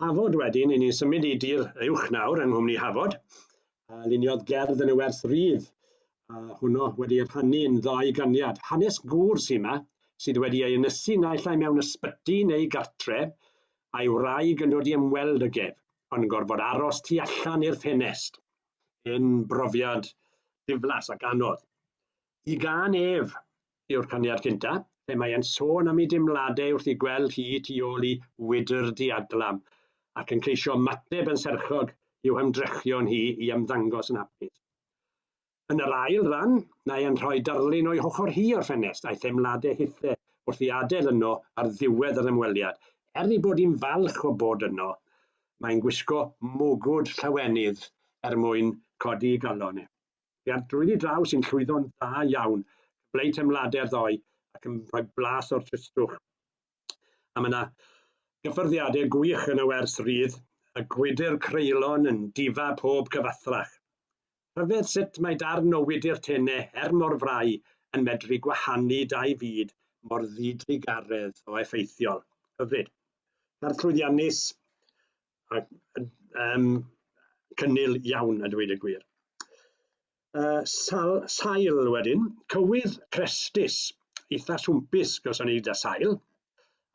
Hafod wedyn, i ni'n symud i dir uwch nawr yng nghwmni Hafod, a luniodd gerdd yn y werth rydd, a hwnnw wedi rhannu yn ddau ganiad. Hanes gŵr sy'n yma, sydd wedi ei ynysu naill ai mewn ysbyty neu gartre, a'i wraig yn dod i ymweld y gef, ond yn gorfod aros tu allan i'r ffenest. Yn brofiad diflas ac anodd. Y gân Ef yw'r caniad cyntaf, lle mae e'n sôn am ei deimladau wrth ei gweld hi tu ôl i wydr diadlam, ac yn ceisio ymateb yn serchog i'w hymdrechion hi i ymddangos yn hapus. Yn yr ail ran, mae e'n rhoi darlun o'i hochr hi o'r ffenest a'i theimladau hithe wrth i adael yno ar ddiwedd yr ymweliad. Er ei bod hi'n falch o bod yno, mae'n gwisgo mwgwd llawenydd er mwyn codi ei galon e. Fi a'r drwyddi draw sy'n llwyddo'n dda iawn. Cyfleu teimladau'r ddoe ac yn rhoi blas o'r tristwch. A mae yna gyffyrddiadau gwych yn y wers rydd, a gwydr creulon yn difa pob cyfathrach. Rhyfedd sut mae darn o wydr tene, her mor frai, yn medru gwahanu dau fyd mor ddidrugaredd o effeithiol. Hyfryd. Cerdd llwyddiannus, ac um, cynnil iawn a dweud y gwir. Uh, sal, sail wedyn, cywydd crestus, eitha swmpus gawson ni da sail,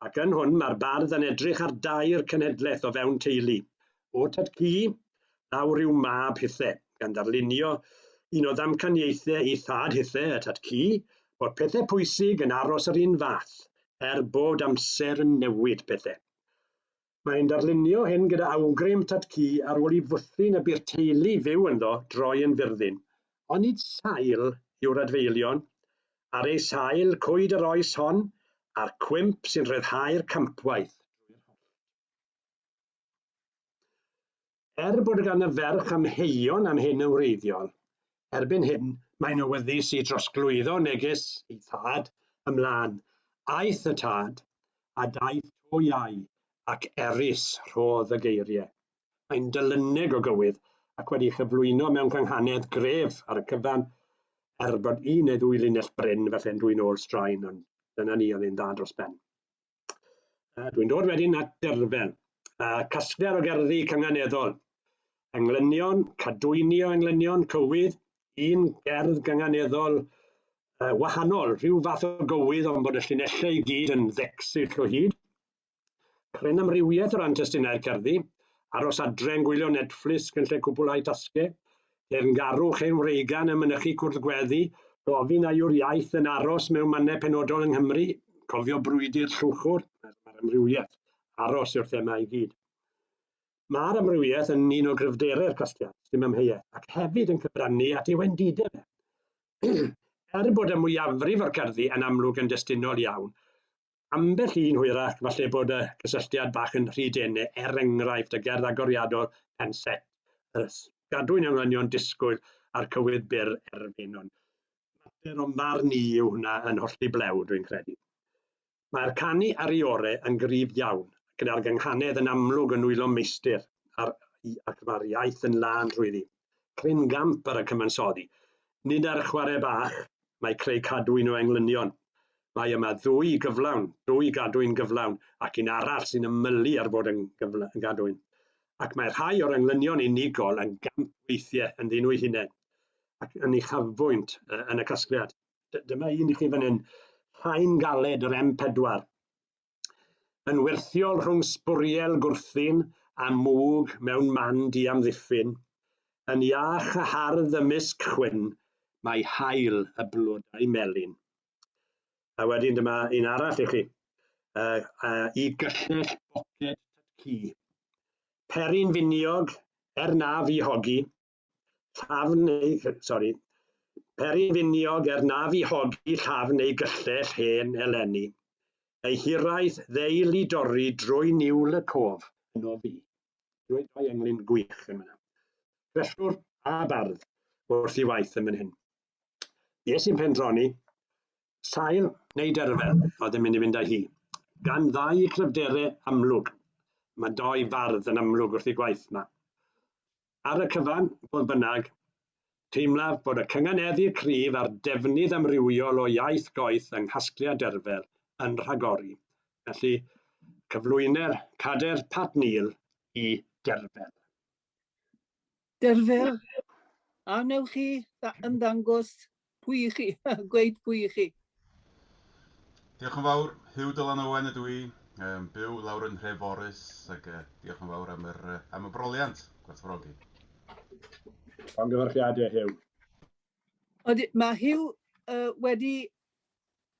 ac yn hwn mae'r bardd yn edrych ar dair cenhedlaeth o fewn teulu. O tad cu, daw rhyw mab hithe, gan ddarlunio un o ddamcaniaethau ei thad hithe, y tad cu, bod pethau pwysig yn aros yr un fath, er bod amser yn newid pethau. Mae'n darlunio hyn gyda awgrym tad cu ar ôl i fwthyn y bu'r teulu fyw ynddo droi yn fyrddin. Onid sail yw'r adfeilion? Ar eu sail, cwyd yr oes hon, a'r cwymp sy'n rhyddhau'r campwaith drwy'r hollt. Er bod gan y ferch amheuon am hyn yn wreiddiol, erbyn hyn mae'n awyddus i drosglwyddo neges ei thad ymlaen. Aeth y tad, a daeth to iau, ac erys rhodd y geiriau. Mae'n dylyneg o gywydd, ac wedi chyflwyno mewn cynghanedd gref ar y cyfan, er bod un neu ddwy linell brin falle'n dwyn ôl straen, ond dyna ni, oedd e'n dda dros ben. Dwi'n dod wedyn at derfel, a casgliad o gerddi cynganeddol. Englynion, cadwyni o englynion cywydd, un gerdd gynganeddol uh, wahanol, rhyw fath o gywydd ond bod y llinellau i gyd yn ddecsill o hyd. Cryn amrywiaeth o ran testunau'r cerddi, aros adre'n gwylio Netflix yn lle cwbl ai tasgau, Teyrngarwch ein wreigan yn mynychu cwrdd gweddi, gofyn a yw'r iaith yn aros mewn mannau penodol yng Nghymru, cofio brwydr Llwchwr, mae'r amrywiaeth aros yw'r thema i gyd. Mae'r amrywiaeth yn un o gryfderau'r casgliad, sy'n amheuaeth, ac hefyd yn cyfrannu at ei wendidau fe. er bod y mwyafrif o'r gerddi yn amlwg yn destunol iawn, Ambell un hwyrach, falle bod y cysylltiad bach yn rhy dene, er enghraifft, y gerdd agoriadol Pen Set, y gadwyn yng Nghlanion Disgwyl a'r cywydd byr Erfyn. Ond mater o'm farn i yw hwnna yn hollti blew, dwi'n credu. Mae'r canu ar ei ore yn gryf iawn, gyda'r gynghanedd yn amlwg yn nwylo meistr, a'r, ac mae'r iaith yn lân rhwyddi. Cryn gamp ar y cyfansoddi. Nid ar chwarae bach, mae creu cadwyn o englynion. Mae yma ddwy gyflawn, dwy gadwyn gyflawn, ac un arall sy'n ymylu ar fod yn gadwyn. Ac mae rhai o'r englynion unigol yn gamp weithiau yn ddyn nhw'i hunain, ac yn uchafbwynt yn y casgliad. Dyma un i chi fan hyn, Rhain galed yr M4. yn wyrthiol rhwng sbwriel gwrthun a mwg mewn man diamddiffyn, yn iach a hardd ymysg chwyn, mae haul y blodau melyn. A wedyn dyma un arall i chi, uh, uh, i gyllell boced tytci. Perin finiog, er na fi hogi, llafn ei... sori, peri finiog er na fi hogi llafn ei gyllell hen eleni. Ei hiraeth ddeil i dorri drwy niwl y cof. Yn o fi. Drwy dau englyn gwych yn fyna. Tresiwr a bardd wrth i waith yn fan hyn. Nes i'n pendroni, sail neu derfel oedd yn mynd i fynd â hi. Gan ddau cryfderau amlwg. Mae doi fardd yn amlwg wrth i gwaith yma. Ar y cyfan, fodd bynnag, teimlaf bod y cynganeddu cryf a'r defnydd amrywiol o iaith goeth yng nghasgliad Derfel yn rhagori. Felly, cyflwyner cader Pat Neal i Derfel. Derfel, a wnewch chi ymddangos Pwy i chi? Gweud pwy i chi? Diolch yn fawr, Huw Dylan Owen ydw i, um, byw lawr yn Nhreforys, ac uh, diolch yn fawr am, yr, uh, am y broliant, gwerthfawrogi. O'n gyfarchiadau, Huw. Oedd, mae Huw uh, wedi...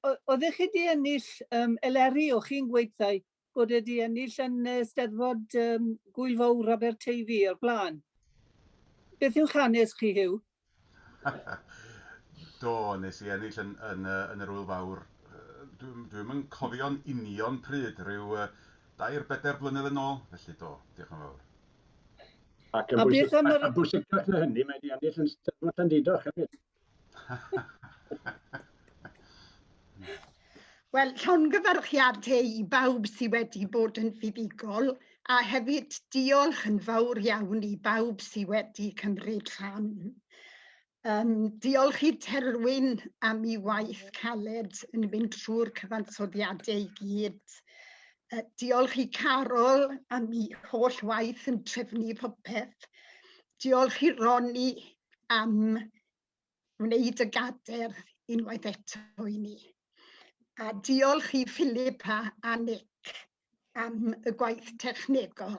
Oeddech chi wedi ennill um, eleri o chi'n gweithau bod e 'di ennill yn y Steddfod um, Gwyl Fawr Aberteifi o'r blaen. Beth yw'ch hanes chi, Hugh? Do, nes i ennill yn, yn, yn yr Wyl Fawr. Dwi'n dwi yn cofio'n union pryd, rhyw uh, dair bedair blynedd yn ôl, felly do, diolch yn fawr. Ac yn bwysig, a, a, a bwysicach na hynny, mae wedi ennill yn Steddfod Llandidoch hefyd. Wel, llongyfarchiad te i bawb sydd wedi bod yn fuddugol a hefyd diolch yn fawr iawn i bawb sydd wedi cymryd rhan. Um, diolch i Terwyn am ei waith caled yn mynd trwy'r cyfansoddiadau i gyd. Uh, diolch i Carol am ei holl waith yn trefnu popeth. Diolch i Roni am wneud y gader unwaith eto i ni. A diolch i Philip a, a Nick am y gwaith technegol.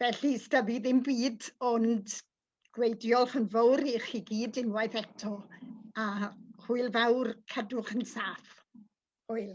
Felly, sda fi ddim byd ond gweud diolch yn fawr i chi gyd unwaith eto a hwyl fawr cadwch yn saff. Hwyl.